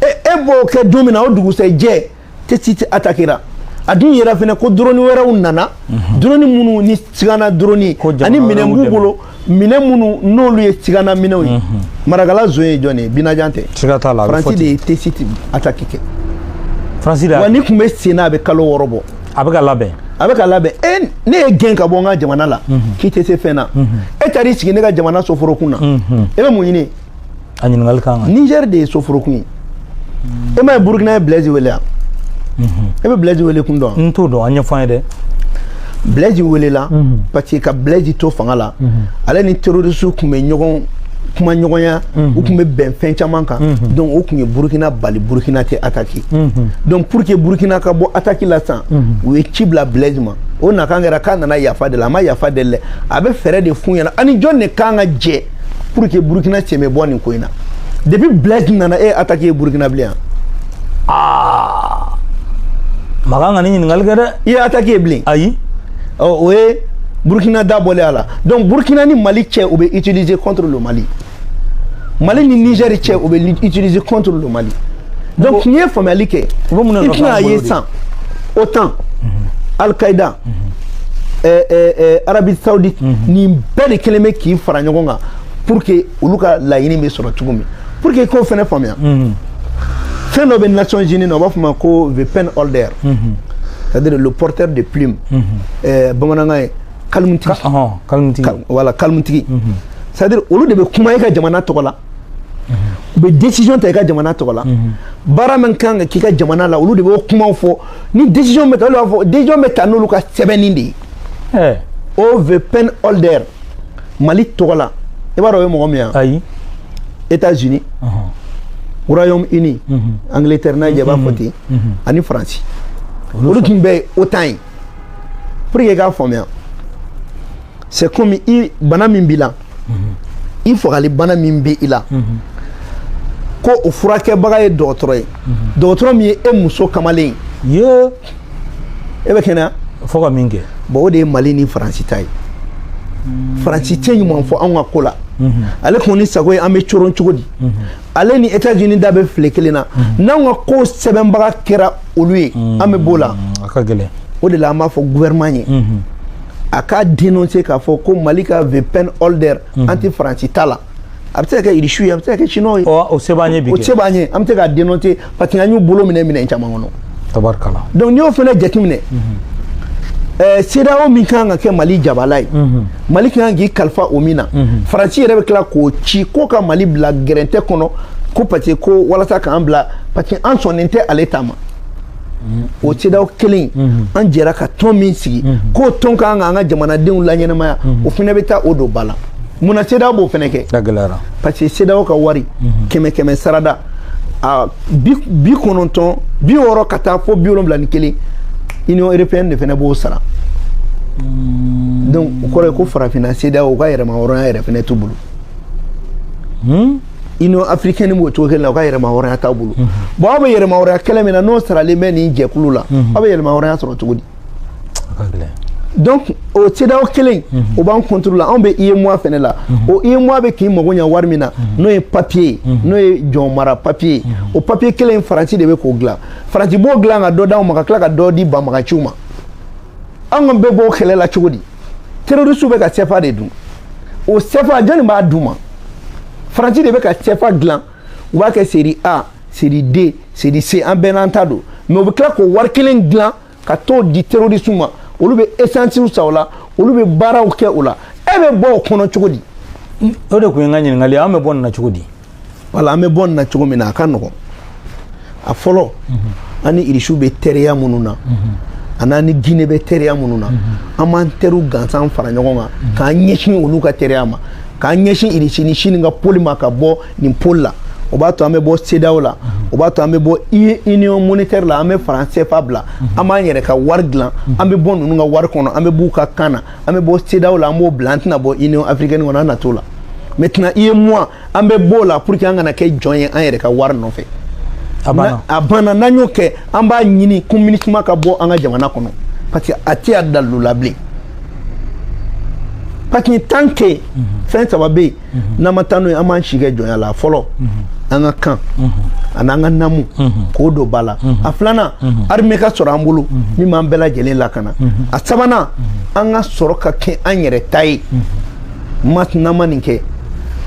e e b'o kɛ don min na o dugusɛjɛ tɛsiti atakera a dun yɛrɛ fana ko drone wɛrɛw nana drone minnu ni sigana drone ani minɛn b'u bolo minɛn minnu n'olu ye sigana minɛnw ye mhm. marakala zone ye jɔn ye binajan tɛ faransi de ye tesiti ataki kɛ faransi de wa ni tun bɛ sen na a bɛ kalo wɔɔrɔ bɔ a bɛ ka labɛn a bɛ ka labɛn e ne y'e gɛn ka bɔ n ka jamana la mhm. k'i tɛ se fɛn na mhm. e taar'i sigi ne ka jamana soforokun na e bɛ mun ɲini a ɲininkali ka kan niger de ye soforokun ye e m'a ye burukina ye blaise wele yan e bɛ blaise wele kun dɔn n t'o dɔn a ɲɛfɔ an ye dɛ blaise welela parce que ka blaise to fanga la ale ni terrorisiw tun bɛ ɲɔgɔn kumaɲɔgɔnya u tun bɛ bɛn fɛn caman kan donc o tun ye burukina bali burukina tɛ ataki donc pour que burukina ka bɔ ataki la sisan u ye ci bila blaise ma o nakan kɛra k'a nana yafa deli a ma yafa deli dɛ a bɛ fɛɛrɛ de f'u ɲɛna ani jɔn de kan ka jɛ pour que burkina cɛ bɛ bɔ nin ko in na depuis blaise nana e y'attaque ye burkina bilen yan aa man kan ka nin ɲininkali kɛ dɛ i ye attaque ye bilen ayi o ye burkina da bɔlen y'a la donc burkina ni mali cɛ o bɛ utiliser contre le mali mali ni niger cɛ o bɛ utiliser contre le mali donc n'i ye faamuyali kɛ i bɛn'a ye san otan al qaida eh, eh, eh, arabie saoudite mm -hmm. nin bɛɛ de kelen bɛ k'i fara ɲɔgɔn kan pour que olu ka laɲini bɛ sɔrɔ cogo min pour que i k'o fana faamuya mm -hmm. fɛn dɔ bɛ nations unies na u b'a fɔ a ma ko the pen holder mm -hmm. c'est à dire le porteur de plume mm -hmm. eh, bamanankan ye kalimutigi Ka, uh -huh. kalimutigi Kal, voilà kalimutigi mm -hmm. c'est à dire olu de bɛ kuma i ka jamana tɔgɔ la u bɛ décision ta i ka jamana tɔgɔ la baara min kan ka k'i ka jamana la olu de b'o kumaw fɔ ni décision bɛ ta olu b'a fɔ décision bɛ ta n'olu ka sɛbɛnni de ye eh. o the pen holder mali tɔgɔ la i b'a dɔn o ye mɔgɔ min ye ayi états unis uh -huh. royaume uni uh mhm. -huh. angleterre n'a jɛ b'a fɔ ten uh -huh. ani faransi olu dun bɛɛ ye otan ye pour que i k'a faamuya c'est comme i bana min b'i la i fagali bana min bɛ i la ko o furakɛbaga ye dɔgɔtɔrɔ ye dɔgɔtɔrɔ min ye e muso kamalen ye e bɛ kɛnɛya fo ka min kɛ bon o de ye mali ni faransi ta ye faransi tɛ ɲuman fɔ anw ka ko la ale kɔni sago ye an bɛ coron cogo di ale ni états unis da bɛ file kelen na mhm. n'anw ka ko sɛbɛnbaga kɛra olu ye mhm. an bɛ b'o la a ka gɛlɛn o de la an b'a fɔ gouvernement ye mhm. a k'a dénoncer k'a fɔ ko mali ka the pen holder an tɛ faransi ta la a bɛ se ka kɛ irisiw ye a bɛ se ka kɛ chinois ye o se b'an ye bi o se b'an ye an bɛ se k'a dénoncer parce que an y'u bolo minɛ minɛn caman kɔnɔ tabarikala donc n'i y'o fana jateminɛ ɛɛ CEDEAO min kan ka kɛ Mali jabala ye Mali ka kan k'i kalifa o min na Faransi yɛrɛ bɛ tila k'o ci ko ka Mali bila gɛrɛntɛ kɔnɔ ko parce que ko walasa k'an bila parce que an sɔnnen tɛ ale ta ma o CEDEAO kelen an jɛra ka tɔn min sigi k'o tɔn ka kan k'an ka jamanadenw laɲɛnamaya o fana bɛ taa o don ba la mun na CEDEAO b'o fana kɛ a gɛlɛyara parce que CEDEAO ka wari kɛmɛ kɛmɛ sarada a bi bi kɔnɔntɔn bi wɔɔrɔ ka taa fo bi wolonwula ni kelen union européenne de fana b'o sara hmm. donc o kɔrɔ ye ko farafinna CEDEAO ka yɛrɛma hɔrɔnya yɛrɛ fana t'u bolo hmm? union africaine b'o cogo kelen na o ka yɛrɛma hɔrɔnya t'a bolo hmm. bon aw bɛ yɛrɛma hɔrɔnya kɛlɛ min na n'o saralen bɛ nin jɛkulu la aw bɛ yɛrɛma hɔrɔnya sɔrɔ cogo di donc o CEDEAO kelen o b'an contrôle la anw bɛ UEMOA fɛnɛ la o UEMOA bɛ k'i mago ɲa wari min na n'o ye papier ye n'o ye jɔn mara papier o papier kelen Faransi de bɛ k'o dilan Faransi b'o dilan ka dɔ d'anw ma ka tila ka dɔ di banbagaciw ma anw ka bɛ bɔ o kɛlɛ la cogo di terroristes bɛ ka CFA de dun o CFA jɔni b'a d'u ma Faransi de bɛ ka CFA dilan u b'a kɛ série A série D série C an bɛɛ n'an ta don mais u bɛ tila k'o wari kelen dilan ka t'o di terroriste ma olu bɛ essence san o la olu bɛ baaraw kɛ o la e bɛ bɔ o kɔnɔ cogo di o de kun ye n ka ɲininkali an bɛ bɔ nin na cogo di wala an bɛ bɔ nin na cogo min na a ka nɔgɔn a fɔlɔ an ni irisiw bɛ teriya minnu na an'an ni gine bɛ teriya minnu na an b'an teriw gansan fara ɲɔgɔn kan k'an ɲɛsin olu ka teriya ma k'an ɲɛsin irisi ni sini ka pôle ma ka bɔ nin pôle la o b'a to an bɛ bɔ CEDEAO la o b'a to an bɛ bɔ union monétaire la an bɛ franc CFA bila an b'an yɛrɛ ka wari dilan an bɛ bɔ ninnu ka wari kɔnɔ an bɛ b'u ka kan na an bɛ bɔ CEDEAO la an b'o bila an tɛna bɔ union africaine kɔnɔ an na t'o la maintenant UEMOA an bɛ b'o la pour que an kana kɛ jɔn ye an yɛrɛ ka wari nɔfɛ a banna n'an y'o kɛ an b'a ɲini ko MINUSMA ka bɔ an ka jamana kɔnɔ parce que a tɛ a dalu la bilen parce que tant que fɛn saba bɛ yen mhm. n'an ma taa n'o ye an b'an si kɛ jɔnya la a fɔlɔ mhm. an ka kan mhm. ani an ka namu k'o don ba la a filanan armée ka sɔrɔ an bolo min b'an bɛɛ lajɛlen lakana a sabanan an ka sɔrɔ ka kɛ an yɛrɛ ta ye n'an ma nin kɛ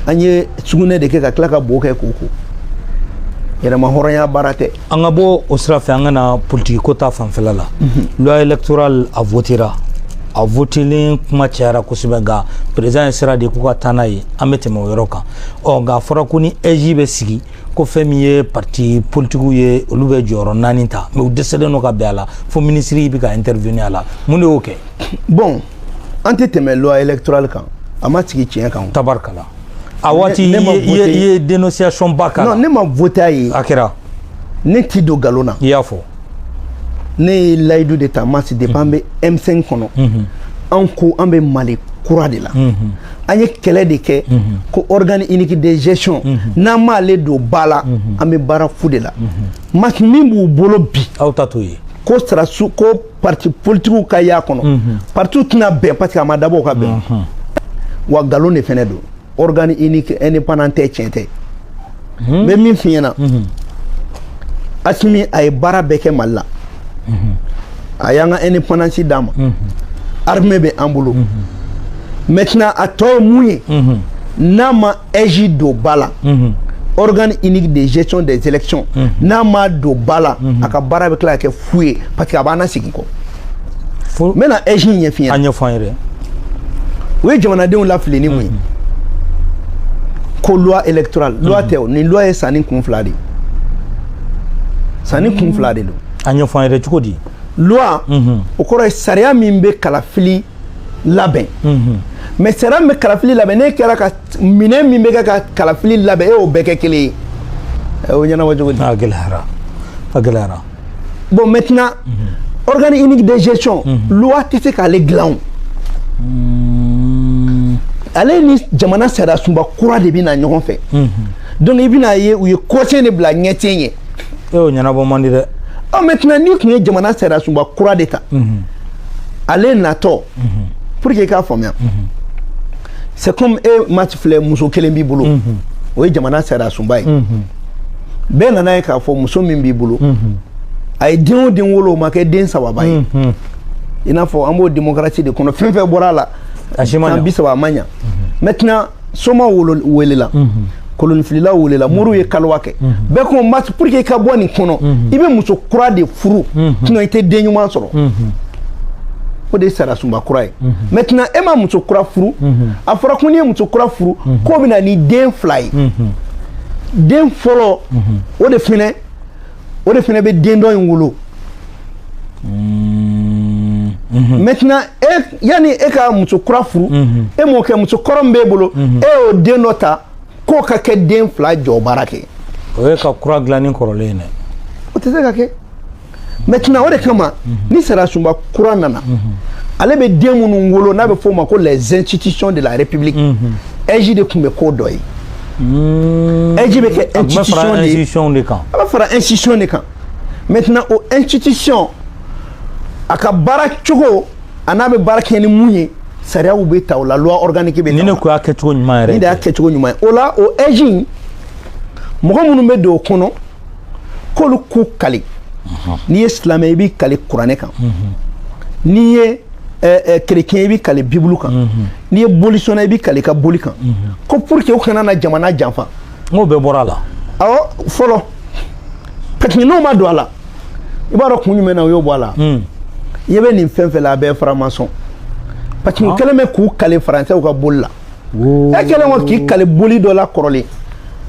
an ye sugunɛ de kɛ ka tila ka bo kɛ k'o ko yɛrɛma hɔrɔnya baara tɛ an ka bɔ o sira fɛ an ka na politikiko ta fanfɛla la loi électorale a votera a votelen kuma cayara kosɛbɛ nka président ye sira di k'u ka taa n'a ye an bɛ tɛmɛ o yɔrɔ kan ɔ nka a fɔra ko ni AIGE bɛ sigi ko fɛn min ye parti politikiw ye olu bɛ jɔyɔrɔ naani ta mais u dɛsɛlen don ka bɛn a la fo minisiri bɛ ka intervenir a la mun de y'o kɛ bon an tɛ tɛmɛ loi électorale kan a ma sigi tiɲɛ kan tabarikala a waati i ye dénonciation ba k'a la non ne ma vote a ye a kɛra ne ti don galon na i y'a fɔ ne ye layidu de ta masi depuis an bɛ M5 kɔnɔ an ko an bɛ Mali kura de la an ye kɛlɛ de kɛ ko organe unique de gestion n'an m'ale don ba la an bɛ baara fu de la masi min b'u bolo bi aw ta t'o ye ko sarasu ko pati politigiw ka y'a kɔnɔ mhm. patiw tɛna bɛn parce que a ma dabɔ ka bɛn mhm. wa nkalon de fɛnɛ don organe unique indépendant tɛ tiɲɛ tɛ n bɛ min f'i ɲɛna asimi a ye baara bɛɛ kɛ mali la a y'an ka indépendance d'an ma armée bɛ an bolo maintenant a tɔ ye mun ye n'a ma eji don ba la organe unique de gestion des élections n'a ma don ba la a ka baara bɛ tila ka kɛ fu ye parce que a b'an lasegin kɔ n bɛna eji ɲɛf'i ɲɛna a ɲɛfɔ an ye dɛ u ye jamanadenw lafili ni mun ye ko loi électorale loi tɛ o nin loi ye sanin kun fila de ye sanin kun fila de don a ɲɛfɔ an ye dɛ cogo di loi o kɔrɔ ye sariya min bɛ kalafili labɛn mhm. mais sariya min bɛ kalafili labɛn ni baarakɛminɛn min bɛ kɛ ka kalafili labɛn e y'o bɛɛ kɛ kelen ye o ɲɛnabɔ cogo di. a gɛlɛyara a gɛlɛyara. bon maintenant mhm. organe unique de gestion mhm. loi tɛ se k'ale dilan o. Mm. ale ni jamana sariya sunba kura de bɛ na ɲɔgɔn fɛ. donc i bɛna ye u ye kɔsen de bila ɲɛ tiɲɛ ye. e y'o ɲɛnabɔ man di dɛ. ɔ maintenant n'i tun ye jamana sariya sunba kura de ta. ale natɔ pour que i k'a faamuya c'est comme e masi filɛ muso kelen b'i bolo o ye jamana sariya sunba ye bɛɛ nan'a ye k'a fɔ muso min b'i bolo a ye den o den wolo o ma kɛ den sababa ye i n'a fɔ an b'o démocratie de kɔnɔ fɛn fɛn bɔra a la san bi saba a ma ɲa maintenant soma welela koloninfilila welela moriw ye kaluwa kɛ bɛɛ ko masi pour que i ka bɔ nin kɔnɔ i bɛ muso kura de furu sinon i tɛ den ɲuman sɔrɔ o de ye sariya sunba kura ye maintenant e ma muso kura furu a fɔra ko n'i ye muso kura furu k'o bɛ na ni den fila ye den fɔlɔ o de fɛnɛ o de fɛnɛ bɛ den dɔ in wolo mm-hmm. Mm-hmm. maintenant e yanni e ka muso kura furu mm-hmm. e m'o kɛ muso kɔrɔ min b'e bolo e y'o den dɔ ta k'o ka kɛ den fila jɔ baara kɛ o ye ka kura dilan ni kɔrɔlen ye dɛ o tɛ se ka kɛ maintenant o de kama ni sariya sunba kura nana ale bɛ den minnu wolo n'a bɛ f'o ma ko les institutions de la république ɛji de tun bɛ k'o dɔ ye AIGE bɛ kɛ institution de ye. institution de kan. A bɛ fara institution de kan. Maintenant o institution a ka baara cogo an'a bɛ baara kɛ ni mun ye sariyaw bɛ ta o la loi organique bɛ ta o la. Ni ne ko y'a kɛcogo ɲuman yɛrɛ. Nin de y'a kɛcogo ɲuman ye o la o AIGE in mɔgɔ minnu bɛ don o kɔnɔ. k'olu k'u kali n'i ye silamɛ i b'i kali kuranɛ kan n'i ye kerecɛn eh, eh, i b'i kali bibulu kan n'i ye bolisɔnna i b'i kali i ka boli kan ko pour que u kana na jamana janfa n k'o bɛɛ bɔra a la awɔ fɔlɔ parce que n'o ma don a la i b'a dɔn kun jumɛn na u y'o bɔ a la hmm. i bɛ nin fɛn fɛn la a bɛɛ franc-maçon parce que u ah. kɛlen bɛ k'u kali faransɛw ka boli la e kɛlen kɔ k'i kali boli dɔ la kɔrɔlen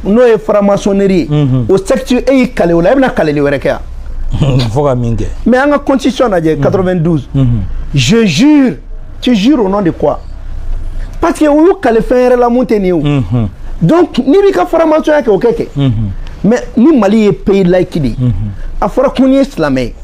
n'o ye franc-maçonnerie ye mhm. o secte e y'i kale o la e bɛna kaleli wɛrɛ kɛ yan fo ka min kɛ mais an ka constitution lajɛ 92 mhm. mhm. je jure tu jure au nom de quoi parce que u y'u kale fɛn wɛrɛ la mun tɛ nin ye o donc n'i b'i ka faramasɔnya kɛ o kɛ kɛ mais ni mali ye pays laïque de ye a fɔra ko n'i ye silamɛ ye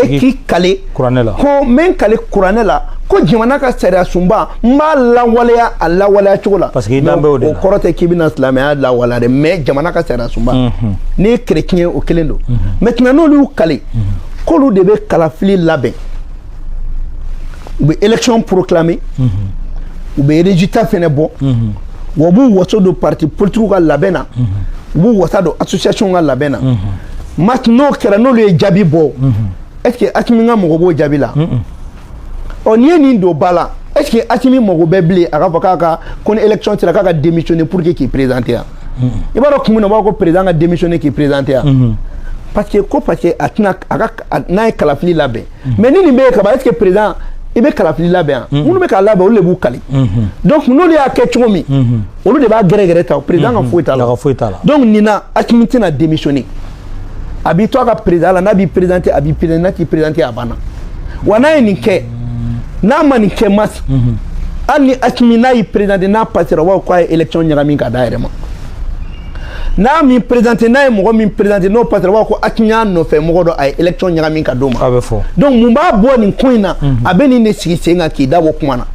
e k'i kale kuranɛ la ko n bɛ n kali kuranɛ la ko jamana ka sariya sunba n b'a lawaleya a lawaleya cogo la parce que i dan bɛ o de la o kɔrɔ tɛ k'i bɛna silamɛya lawaleya dɛ mais jamana ka sariya sunba mhm. n'i ye kerecɛn ye o kelen don mhm. maintenant n'olu y'u kali mhm. k'olu de bɛ kalafili labɛn u bɛ élection proclamer u bɛ résultat fɛnɛ bɔ wa u b'u wasa don parti politigiw ka labɛn na u b'u wasa don association ka labɛn na n'o kɛra n'olu ye jaabi bɔ est ce que asimi ka mɔgɔ b'o jaabi la ɔ n'i ye nin don ba la est ce que asimi mago bɛ bilen a k'a fɔ k'a ka ko ni élection sera k'a ka démissionner pour que k'i présenter yan i b'a dɔn kun min na u b'a fɔ ko président ka démissionner k'i présenter yan parce que ko parce que a tɛna a ka n'a ye kalafili labɛn mais ni nin bɛ yen kaban est ce que président i bɛ kalafili labɛn yan minnu bɛ k'a labɛn olu de b'u kali donc n'olu y'a kɛ cogo min olu de b'a gɛrɛgɛrɛ ta président ka foyi t'a la donc nin na asimi tɛna démissionner a b'i to a ka président la n'a b'i présenter a b'i présenter n'a t'i présenter a banna wa n'a ye nin kɛ n'a ma nin kɛ mas mhm. hali ni asimi n'a y'i présenter n'a passera u b'a fɔ k'a ye élection ɲagami ka d'a yɛrɛ ma n'a m'i présenter n'a ye mɔgɔ min présenter n'o passera u b'a fɔ ko asimi y'a nɔfɛ mɔgɔ dɔ a ye élection ɲagami ka d'o ma a bɛ fɔ donc mun b'a bɔ nin ko in na mhm. a bɛ nin de sigi sen kan k'i da bɔ kuma na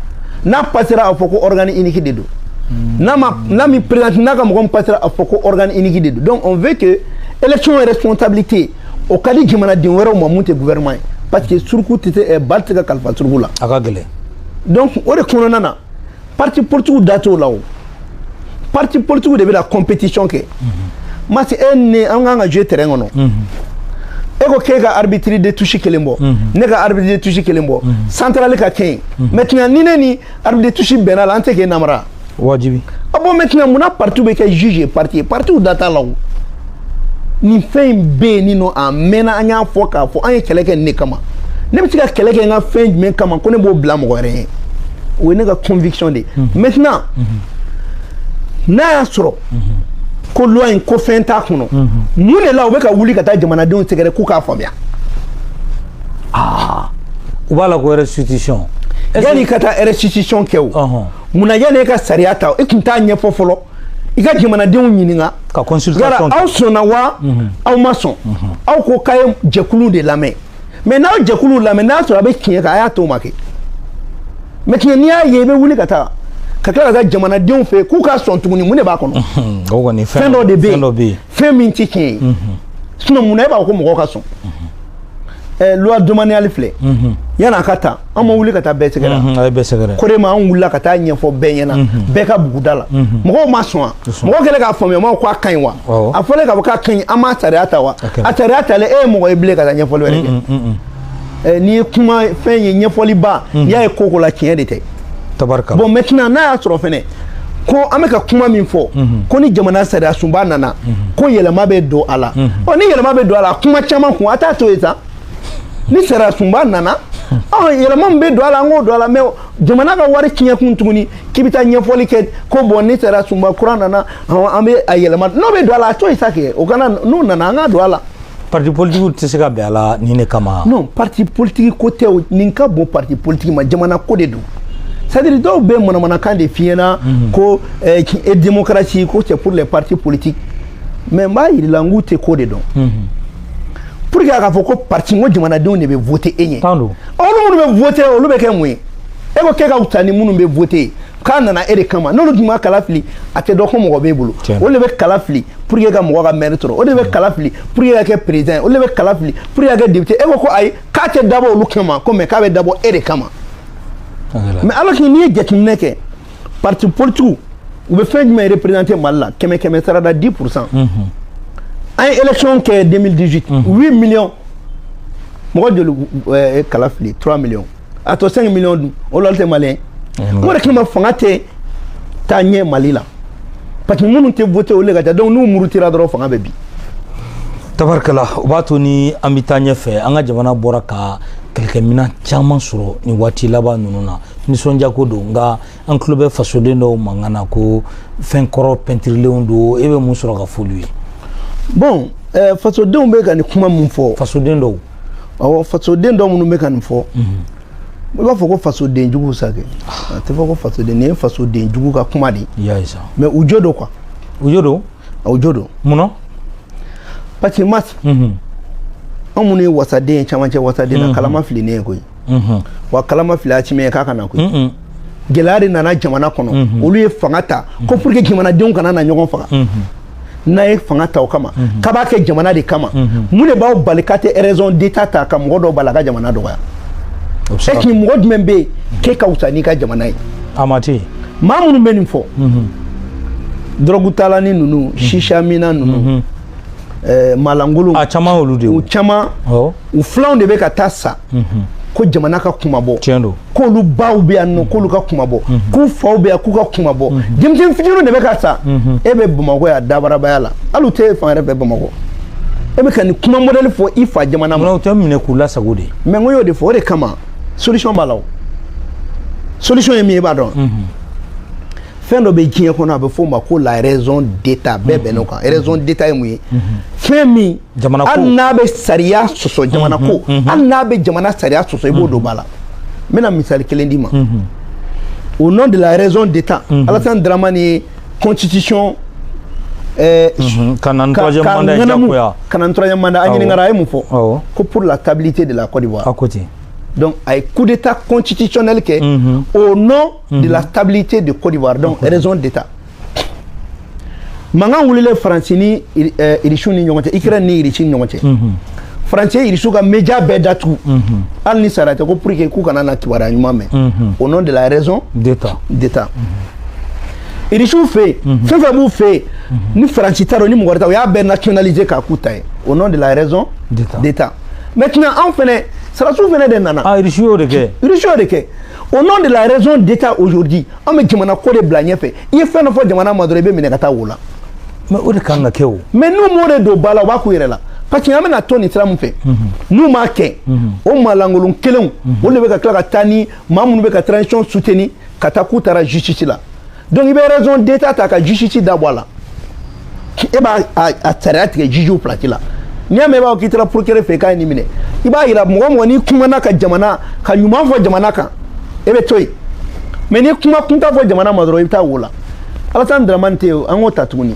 n'a passera a fɔ ko organe unique de don n'a ma n'a m'i présenter n'a ka mɔgɔ min passera a fɔ ko organe unique de don donc on veut que élection responsabilité o ka di jamanaden wɛrɛw ma mun tɛ gouvernement ye parce que suruku tɛ se ɛɛ ba tɛ se ka kalifa suruku la a ka gɛlɛn donc o de kɔnɔna na parti politigiw da t'o la o parti politigiw de bɛna compétition kɛ masi e ni ne an kan ka jouer terrain kɔnɔ e ko k'e ka arbitre de touche kelen bɔ ne ka arbitre de touche kelen bɔ centrale ka kɛ yen maintenant ni ne ni arbitre de touche bɛnn'a la an tɛ k'e namara wajibi a bon maintenant mun na parti bɛ kɛ juge et partie ye partiw da t'a la o nin fɛn in bɛ yen nin nɔ a mɛnna an y'a fɔ k'a fɔ an ye kɛlɛ kɛ nin de kama ne bɛ se ka kɛlɛ kɛ n ka fɛn jumɛn kama ko ne b'o bila mɔgɔ wɛrɛ ye o ye ne ka conviction de ye mhm. maintenant mhm. n'a y'a sɔrɔ mhm. ko loi in ko fɛn t'a kɔnɔ mun de la u bɛ ka wuli ka taa jamanadenw sɛgɛrɛ k'u k'a faamuya aa u b'a la ko restitution yanni i ka taa restitution kɛ o munna yanni e ka sariya ta e tun t'a ɲɛfɔ fɔlɔ i ka jamanadenw ɲininka ka consultation aw sɔnna wa mhm. aw ma sɔn mhm. aw ko k'a ye jɛkulu de lamɛn mais n'aw jɛkulu lamɛn n'a sɔrɔ a bɛ tiɲɛ kan a y'a to o ma kɛ mais tiɲɛ n'i y'a ye i bɛ wuli ka taa ka tila ka taa jamanadenw fɛ k'u ka sɔn tuguni mun de b'a kɔnɔ fɛn dɔ de bɛ yen fɛn min tɛ tiɲɛ ye sinon mun na e b'a fɔ ko mɔgɔw ka sɔn ɛɛ loi domaniale filɛ yan'a ka ta an ma wuli ka taa bɛɛ sɛgɛrɛ a ye bɛɛ sɛgɛrɛ COREMA an wulila ka taa ɲɛfɔ bɛɛ ɲɛna bɛɛ ka buguda la mɔgɔw ma sɔn wa mɔgɔw kɛlen k'a faamuya maaw ko a ka ɲi wa a fɔlen k'a fɔ k'a ka ɲi an m'a sariya ta wa a sariya talen e ye mɔgɔ ye bilen ka taa ɲɛfɔli wɛrɛ kɛ n'i ye kuma fɛn ye ɲɛfɔliba n'i y'a ye ko ko la tiɲɛ de tɛ tabarikala bon maintenant n'a y'a sɔrɔ fɛnɛ ko an bɛ ka kuma min fɔ mhm. ko ni jamana sariya sunba nana mhm. ko yɛlɛma bɛ don a la mhm. ɔ ni yɛlɛma bɛ don a la kuma caman kun a t'a to yen sa ni sariya sunba nana ɔ yɛlɛma min bɛ don a la an k'o don a la mais jamana ka wari tiɲɛ kun tuguni k'i bɛ taa ɲɛfɔli kɛ ko bon ni sariya sunba kura nana an bɛ a yɛlɛma n'o bɛ don a la a to yen sa kɛ o ka na n'o nana an k'a don a la. parti politique tɛ se ka bɛn a la nin de kama non parti politique ko tɛ o nin ka bon parti politique ma jamana ko de don c'est-à-dire dɔw bɛ manamanakan de f'i ɲɛ na mhm. ko eh, e démocratie ko c'est pour les partis politiques mais n b'a yir'i la n k'u tɛ ko de dɔn mhm. pour que a ka fɔ ko parti n ko jamanadenw de bɛ voter e ɲɛ ɔ olu minnu bɛ voter olu bɛ kɛ mun ye e ko k'e ka fisa ni minnu bɛ voter k'a nana e de kama n'olu tun ma kala fili a tɛ dɔn ko mɔgɔ b'e bolo olu de bɛ kala fili pour que ka mɔgɔ ka maire sɔrɔ olu de bɛ kala fili pour que ka kɛ président olu de bɛ kala fili pour que ka kɛ député e ko ko ayi k'a tɛ dabɔ olu kama ko mais k'a bɛ dabɔ e de kama mais alors que n'i ye jateminɛ kɛ parti politique u bɛ fɛn jumɛn représenter Mali la kɛmɛ kɛmɛ sara da 10 pour cent mhm. an ye élection kɛ 2018 8 mhm. millions mɔgɔ joli ye kala fili 3 millions a tɔ 5 millions dun o la olu tɛ maliyɛn o de kama fanga tɛ taa ɲɛ Mali la parce que minnu tɛ voter olu de ka ca donc n'u murutira dɔrɔn fanga bɛ bin tabarikala o b'a to ni an bɛ taa ɲɛfɛ an ka jamana bɔra ka kɛlɛkɛminɛn caman sɔrɔ nin waati laban ninnu na nisɔndiyako don nka an tulo bɛ fasoden dɔw mankan na ko fɛn kɔrɔ pɛntirilenw don e bɛ mun sɔrɔ ka f'olu ye bon eh, fasodenw bɛ ka nin kuma min fɔ fasoden dɔw awɔ fasoden dɔ minnu bɛ ka nin fɔ i b'a fɔ ko fasoden jugu sa kɛ a tɛ fɔ ko fasoden nin ye fasoden jugu ka kuma de ye mais u jo don quoi u jo don u jo don mun na parce que mas anw minnu ye wasaden ye camancɛ wasaden na kala ma fili ne ye koyi wa kala ma fili Assimi ye k'a ka na koyi gɛlɛya de nana jamana kɔnɔ olu ye fanga ta ko pour que jamanadenw kana na ɲɔgɔn faga n'a ye fanga ta o kama k'a b'a kɛ jamana de kama mun de b'aw bali k'a tɛ raison d'état ta ka mɔgɔ dɔw bali a ka jamana dɔgɔya est-ce que mɔgɔ jumɛn bɛ yen k'e ka wusa n'i ka jamana ye a ma ten maa minnu bɛ nin fɔ dɔrɔgutalanin ninnu shishaminna ninnu eh, maalankolon a caman y'olu de ye u caman u filanw de bɛ ka taa sa mhm. ko jamana ka kunmabɔ tiɲɛ don k'olu baw bɛ yan nɔ k'olu ka kunmabɔ mhm. k'u faw bɛ yan k'u ka kunmabɔ mhm. denmisɛnnin fitininw de bɛ ka sa e bɛ bamakɔ yan dabarabaya la hali u tɛ fan wɛrɛ fɛ bamakɔ e bɛ ka nin kuma mɔdɛli fɔ i fa jamana ma. o tɛ minɛ k'u lasago de. mais n ko y'o de fɔ o de kama solution b'a la o solution ye min ye i b'a dɔn. fɛn dɔ bɛ diɲɛ kɔnɔ a bɛ f'o ma ko la raison d'état bɛɛ bɛnn'o kan mhm. raison d'état ye mun ye mhm. fɛn min hali n'a bɛ sariya sɔsɔ jamana ko mhm. hali n'a bɛ jamana sariya sɔsɔ i b'o don ba la n bɛna misali kelen d'i ma au nom de la raison d'état Alassane Dramane ye constitution eh, ka na ni troisième mandat ye jagoya ka na ni troisième mandat a ɲininkara a ye mun fɔ ko pour la stabilité de la Côte d'Ivoire a ko ten donc a ye coup d'état constitutionnel kɛ au nom de la stabilité de Côte d'Ivoire donc raison d'état mankan wulilen faransi ni irisiw ni ɲɔgɔn cɛ ukraine ni irisi ni ɲɔgɔn cɛ faransi ye irisiw ka media bɛɛ datugu hali ni sariya tɛ ko pour que k'u kana na kibaruya ɲuman mɛn au nom de la raison d'état irisiw fɛ yen fɛn fɛn b'u fɛ yen ni faransi ta don ni mɔgɔ wɛrɛ ta o y'a bɛɛ nationaliser k'a k'u ta ye au nom de la raison d'état maintenant anw fɛnɛ sarasiw fɛnɛ de nana irisiw y'o de kɛ irisiw y'o de kɛ au nom de la raison d'état aujourd'hui an bɛ jamana ko de bila ɲɛfɛ i ye fɛn dɔ fɔ jamana ma dɔrɔn i bɛ minɛ ka taa wo la mais o de ka kan ka kɛ o mais n'u m'o de don ba la u b'a k'u yɛrɛ la parce que an bɛna to nin sira min fɛ mhm. n'u m'a kɛ mhm. o maalankolon kelenw mhm. olu de bɛ ka tila ka taa ni maa minnu bɛ ka transition soutenir ka taa k'u taara justice la donc i bɛ raison d'état ta ka justice da bɔ a la e b'a a sariya tigɛ jugew place la n'i y'a mɛn i b'a fɔ k'i taara procureur fɛ k'a ye nin minɛ i b'a yira mɔgɔ mɔgɔ n'i kumana ka jamana ka ɲuman fɔ jamana kan e bɛ to yen mais n'i kuma kuntan fɔ jamana ma dɔrɔn i bɛ taa wo la alasani daramani tɛ yen an k'o ta tuguni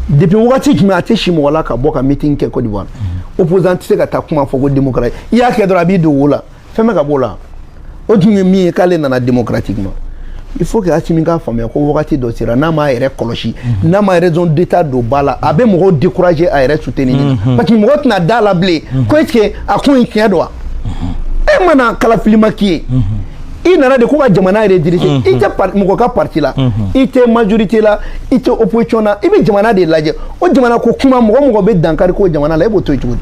depuis wagati jumɛn a tɛ si mɔgɔ la ka bɔ ka meeting kɛ Côte d'Ivoire opposant tɛ se ka taa kuma fɔ ko démocratie i y'a kɛ dɔrɔn a b'i don wo la fɛn bɛ ka b'o la o tun ye min ye k'ale nana démocratiquement il faut que Assimi k'a faamuya ko wagati dɔ sera n'a m'a yɛrɛ kɔlɔsi mhm. n'a ma raison d'état don ba la a bɛ mɔgɔw décourager a yɛrɛ soutenir mhm. parce que mɔgɔ tɛna da la bilen mhm. ko est ce que a ko in tiɲɛ don wa e mana kalafilima k'i ye i nana de ko ka jamana yɛrɛ diriger mhm. i tɛ mɔgɔ ka parti la mhm. i tɛ majorité la i tɛ opposition na i bɛ jamana de lajɛ o jamana ko kuma mɔgɔ mɔgɔ bɛ dankari ko jamana la e b'o to yen cogo di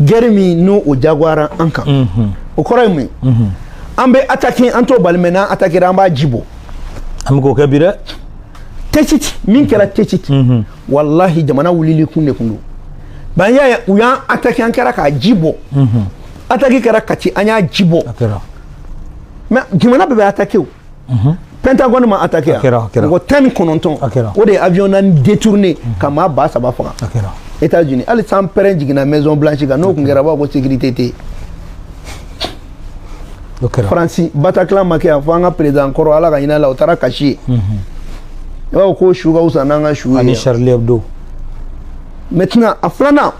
guerre min n'o o jagoyara an kan o kɔrɔ ye mun ye an bɛ ataki an t'o bali mais n'an atakira an b'a ji bɔ an bɛ k'o kɛ bi dɛ Tessit min kɛra Tessit walahi jamana wulili kun de kun don ban y'a ye u y'an ataki an kɛra k'a ji bɔ ataki kɛra Kati an y'a ji bɔ mais jamana bɛɛ bɛ ataki o Pentagone ma attaqué mɔgɔ tan ni kɔnɔntɔn o de ye avion naani détourné ka maa ba saba faga états unis hali sanpɛrɛn jiginna maison blanche kan n'o tun kɛra b'a ko sécurité tɛ yen faransi bataclan ma kɛ yan fo an ka président kɔrɔ ala ka hinɛ a la o taara kasi yen i b'a fɔ k'o su ka wusa n'an ka su ye ani charlie hebdo maintenant a filanan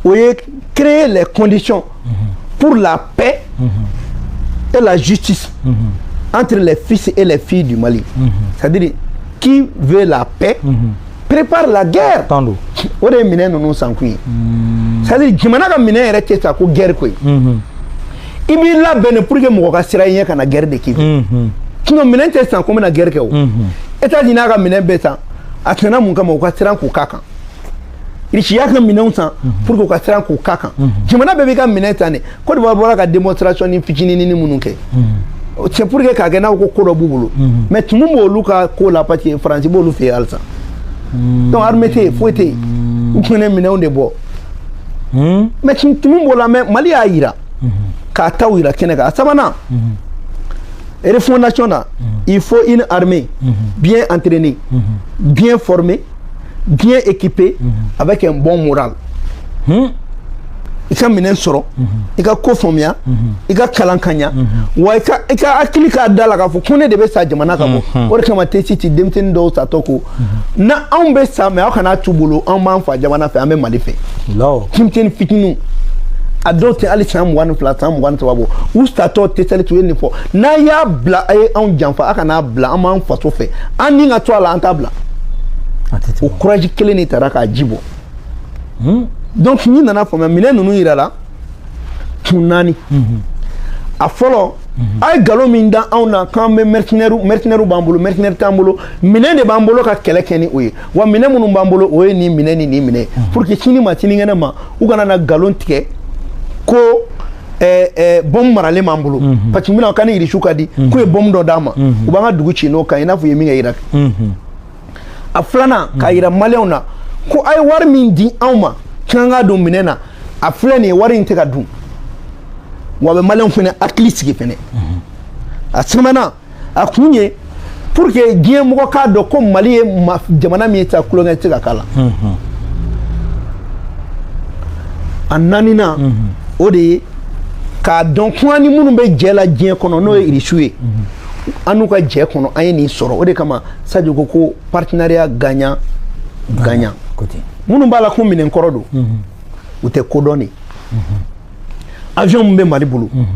o ye créer les conditions pour la paix et la justice entre les fils et les filles du Mali. C'est-à-dire, qui veut la paix prépare la guerre. O de ye minɛn ninnu sankun ye. C'est-à-dire, jamana ka minɛn yɛrɛ tɛ san ko guerre koyi. I b'i labɛn pour que mɔgɔ ka siran i ɲɛ kana guerre de k'i fɛ. Sinon, minɛn tɛ san ko n bɛna guerre kɛ o. États-Unis y'a ka minɛn bɛɛ san, a tɛna mun kama u ka siran k'u k'a kan. irisi y'a ka minɛnw san mhm. pour que u ka siran k'u k'a kan mhm. jamana bɛɛ b'i ka minɛn san de Côte d'Ivoire bɔra ka démonstration ni fitininini minnu kɛ mhm. c'est pour que k'a kɛ n'a ko ko dɔ b'u bolo mais tumu b'olu ka ko la parce que faransi b'olu fɛ yen halisa donc armée tɛ yen foyi tɛ yen u tun bɛ minɛnw de bɔ mais tumu b'o la mais mali y'a jira k'a taw jira kɛnɛ kan a sabanan refondation na il faut une armée bien entraînée bien formée bien équipée mhm. avec un bon moral hmm. i ka minɛn sɔrɔ mhm. i ka ko faamuya mhm. i ka kalan ka ɲa wa i ka hakili k'a da la k'a fɔ ko ne de bɛ sa jamana ka bɔ o de kama Tessit denmisɛnnin dɔw satɔ ko na anw bɛ sa mais aw kana t'u bolo anw b'an fa jamana fɛ an bɛ mali fɛ denmisɛnnin fitininw a dɔw tɛ hali san mugan ni fila san mugan ni saba bɔ u satɔ tesɛli tun ye nin fɔ n'a y'a bila a ye anw janfa a kana n'a bila an b'an faso fɛ an ni ka to a la an t'a bila o kuraji kelen de taara k'a ji bɔ hmm? donc n'i nana faamuya minɛn ninnu yira la kun naani mhm. a fɔlɔ mhm. a ye nkalon min da anw na k'an bɛ mercenaires mercenaires b'an bolo mercenaires t'an bolo minɛn de b'an bolo ka kɛlɛ kɛ ni o ye wa minɛn minnu b'an bolo o ye nin minɛn ni nin minɛn ye mhm. pour que sini ma sinikɛnɛ ma u kana na nkalon tigɛ ko Eh, eh, bɔmu maralen b'an bolo mhm. parce que mina ka ni irisiw ka di mhm. k'u ye bɔmu dɔ d'an ma mhm. u b'an ka dugu ci n'o kan i n'a fɔ u ye min kɛ iraki a filanan k'a yira maliyɛnw na ko a ye wari min di anw ma k'an k'a don minɛn na a filɛ nin ye wari in tɛ ka dun wa a bɛ maliyɛnw fɛnɛ hakili sigi fɛnɛ a sabanan a kun ye pour que diɲɛ mɔgɔ k'a dɔn ko mali ye jamana min ye ta tulonkɛ tɛ ka k'a la a naaninan o de ye k'a dɔn ko an ni minnu bɛ jɛ la diɲɛ kɔnɔ n'o ye irisiw ye an n'u ka jɛ kɔnɔ an ye nin sɔrɔ o de kama sadio ko ko partenariat gagnant gagnant minnu b'a la ko minɛn kɔrɔ don mhm. u tɛ ko dɔn dɛ mhm. avion min bɛ mali bolo mhm.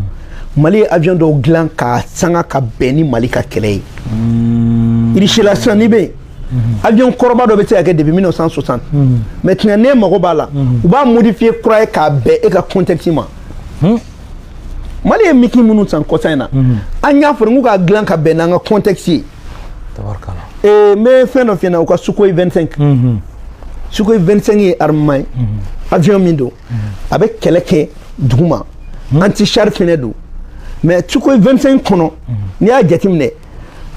mali ye avion dɔw dilan k'a sanga ka bɛn ni mali ka kɛlɛ ye mm. irisila sisan n'i bɛ yen avion kɔrɔba dɔ bɛ se ka kɛ depuis 1960 maintenant ne mago b'a la u b'a modifier kura ye k'a bɛn e ka contexte ma hmm? mali ye miki minnu san kɔsa in na mhm. an y'a fɔ k'u ka dilan ka bɛn n'an ka contexte ye eh, n bɛ fɛn dɔ f'i ɲɛna u ka sukoyi 25 mhm. sukoyi 25 ye armement ye mhm. avion min don a bɛ kɛlɛ kɛ duguma anti char fɛnɛ don mais sukoyi 25 kɔnɔ n'i y'a jateminɛ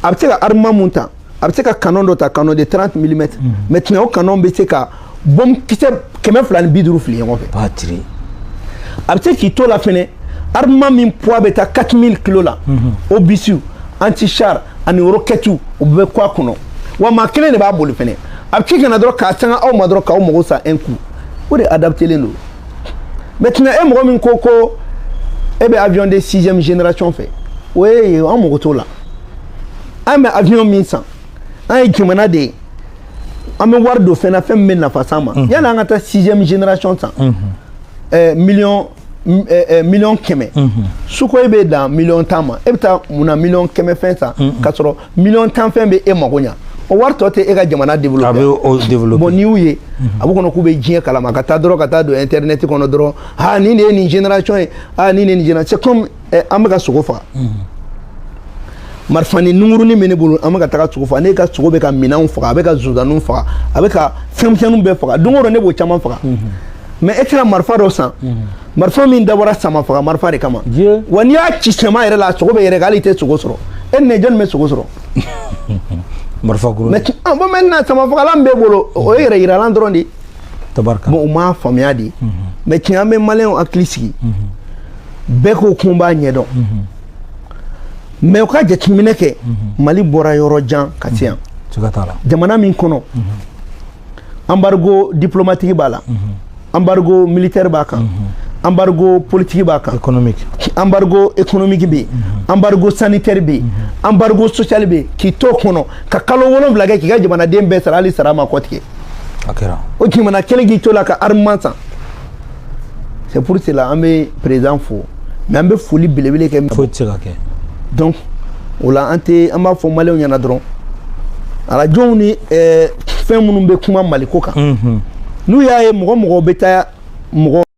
a bɛ se ka armement mun ta a bɛ se ka canon dɔ ta canon de 30 mm mhm. maintenant o canon bɛ se ka bɔm kisɛ kɛmɛ fila ni bi duuru fili ɲɔgɔn fɛ a bɛ se k'i to la fɛnɛ armement min poids bɛ taa 4000 kilo la obus anti char ani rokɛtiw o bɛɛ kɔ a kɔnɔ wa maa kelen de b'a boli fɛnɛ a bɛ k'i kana dɔrɔn k'a sanga aw ma dɔrɔn k'aw mago sa un coup o de adaptelen don maintenant e mɔgɔ min ko ko e bɛ avion de sixième génération fɛ o ye an mago t'o la an bɛ avion min san an ye jamana de ye an bɛ wari don fɛn na fɛn min bɛ nafa s'an ma yanni an ka taa sixième génération san ɛɛ miliyɔn ɛɛ miliyɔn kɛmɛ sukoyi bɛ dan miliyɔn tan ma e bɛ taa mun na miliyɔn kɛmɛ fɛn san k'a sɔrɔ miliyɔn tan fɛn bɛ e mago ɲa o wari tɔ tɛ e ka jamana développer a bɛ o développer bon n'i y'u ye a b'u kɔnɔ k'u bɛ diɲɛ kalama ka taa dɔrɔn ka taa don internet kɔnɔ dɔrɔn aa nin de ye nin génération ye aa nin de ye nin génération c'est comme ɛ an bɛ ka sogo faga marifanin nungurunin bɛ ne bolo an bɛ ka taga sogo faga ne ka sogo bɛ ka minanw faga a bɛ ka zonzanninw faga a bɛ ka fɛnmisɛnninw bɛɛ faga don o don ne b'o caman faga mais e tɛna marifa dɔ san marifa min dabɔra sama faga marifa de kama wa n'i y'a ci sama yɛrɛ la a sogo bɛ yɛrɛkɛ hali i tɛ sogo sɔrɔ e ni ne jɔni bɛ sogo sɔrɔ marifa kuru mais bon maintenant sama fagalan b'e bolo o ye yɛrɛ yiralan dɔrɔn de ye tabarika bon u m'a faamuya de mais tiɲɛ an bɛ maliyɛnw hakili sigi bɛɛ ko k'u b'a ɲɛdɔn mais u ka jateminɛ kɛ mali bɔra yɔrɔ jan ka se yan jamana min kɔnɔ embargo diplomatique b'a la embargo militaire b'a kan embargo politique b'a kan embargo économique bɛ yen embargo sanitaire bɛ yen embargo social bɛ yen k'i t'o kɔnɔ ka kalo wolonwula kɛ k'i ka jamanaden bɛɛ sara hali sara ma kɔtigɛ o jamana kelen k'i t'o la ka armement san c'est pour cela an bɛ président fo mais an bɛ foli belebele kɛ foyi tɛ se ka kɛ donc o la an tɛ an b'a fɔ maliyɛnw ɲɛna dɔrɔn arajow ni fɛn minnu bɛ kuma maliko kan n'u y'a ye mɔgɔ mɔgɔ bɛ taa mɔgɔ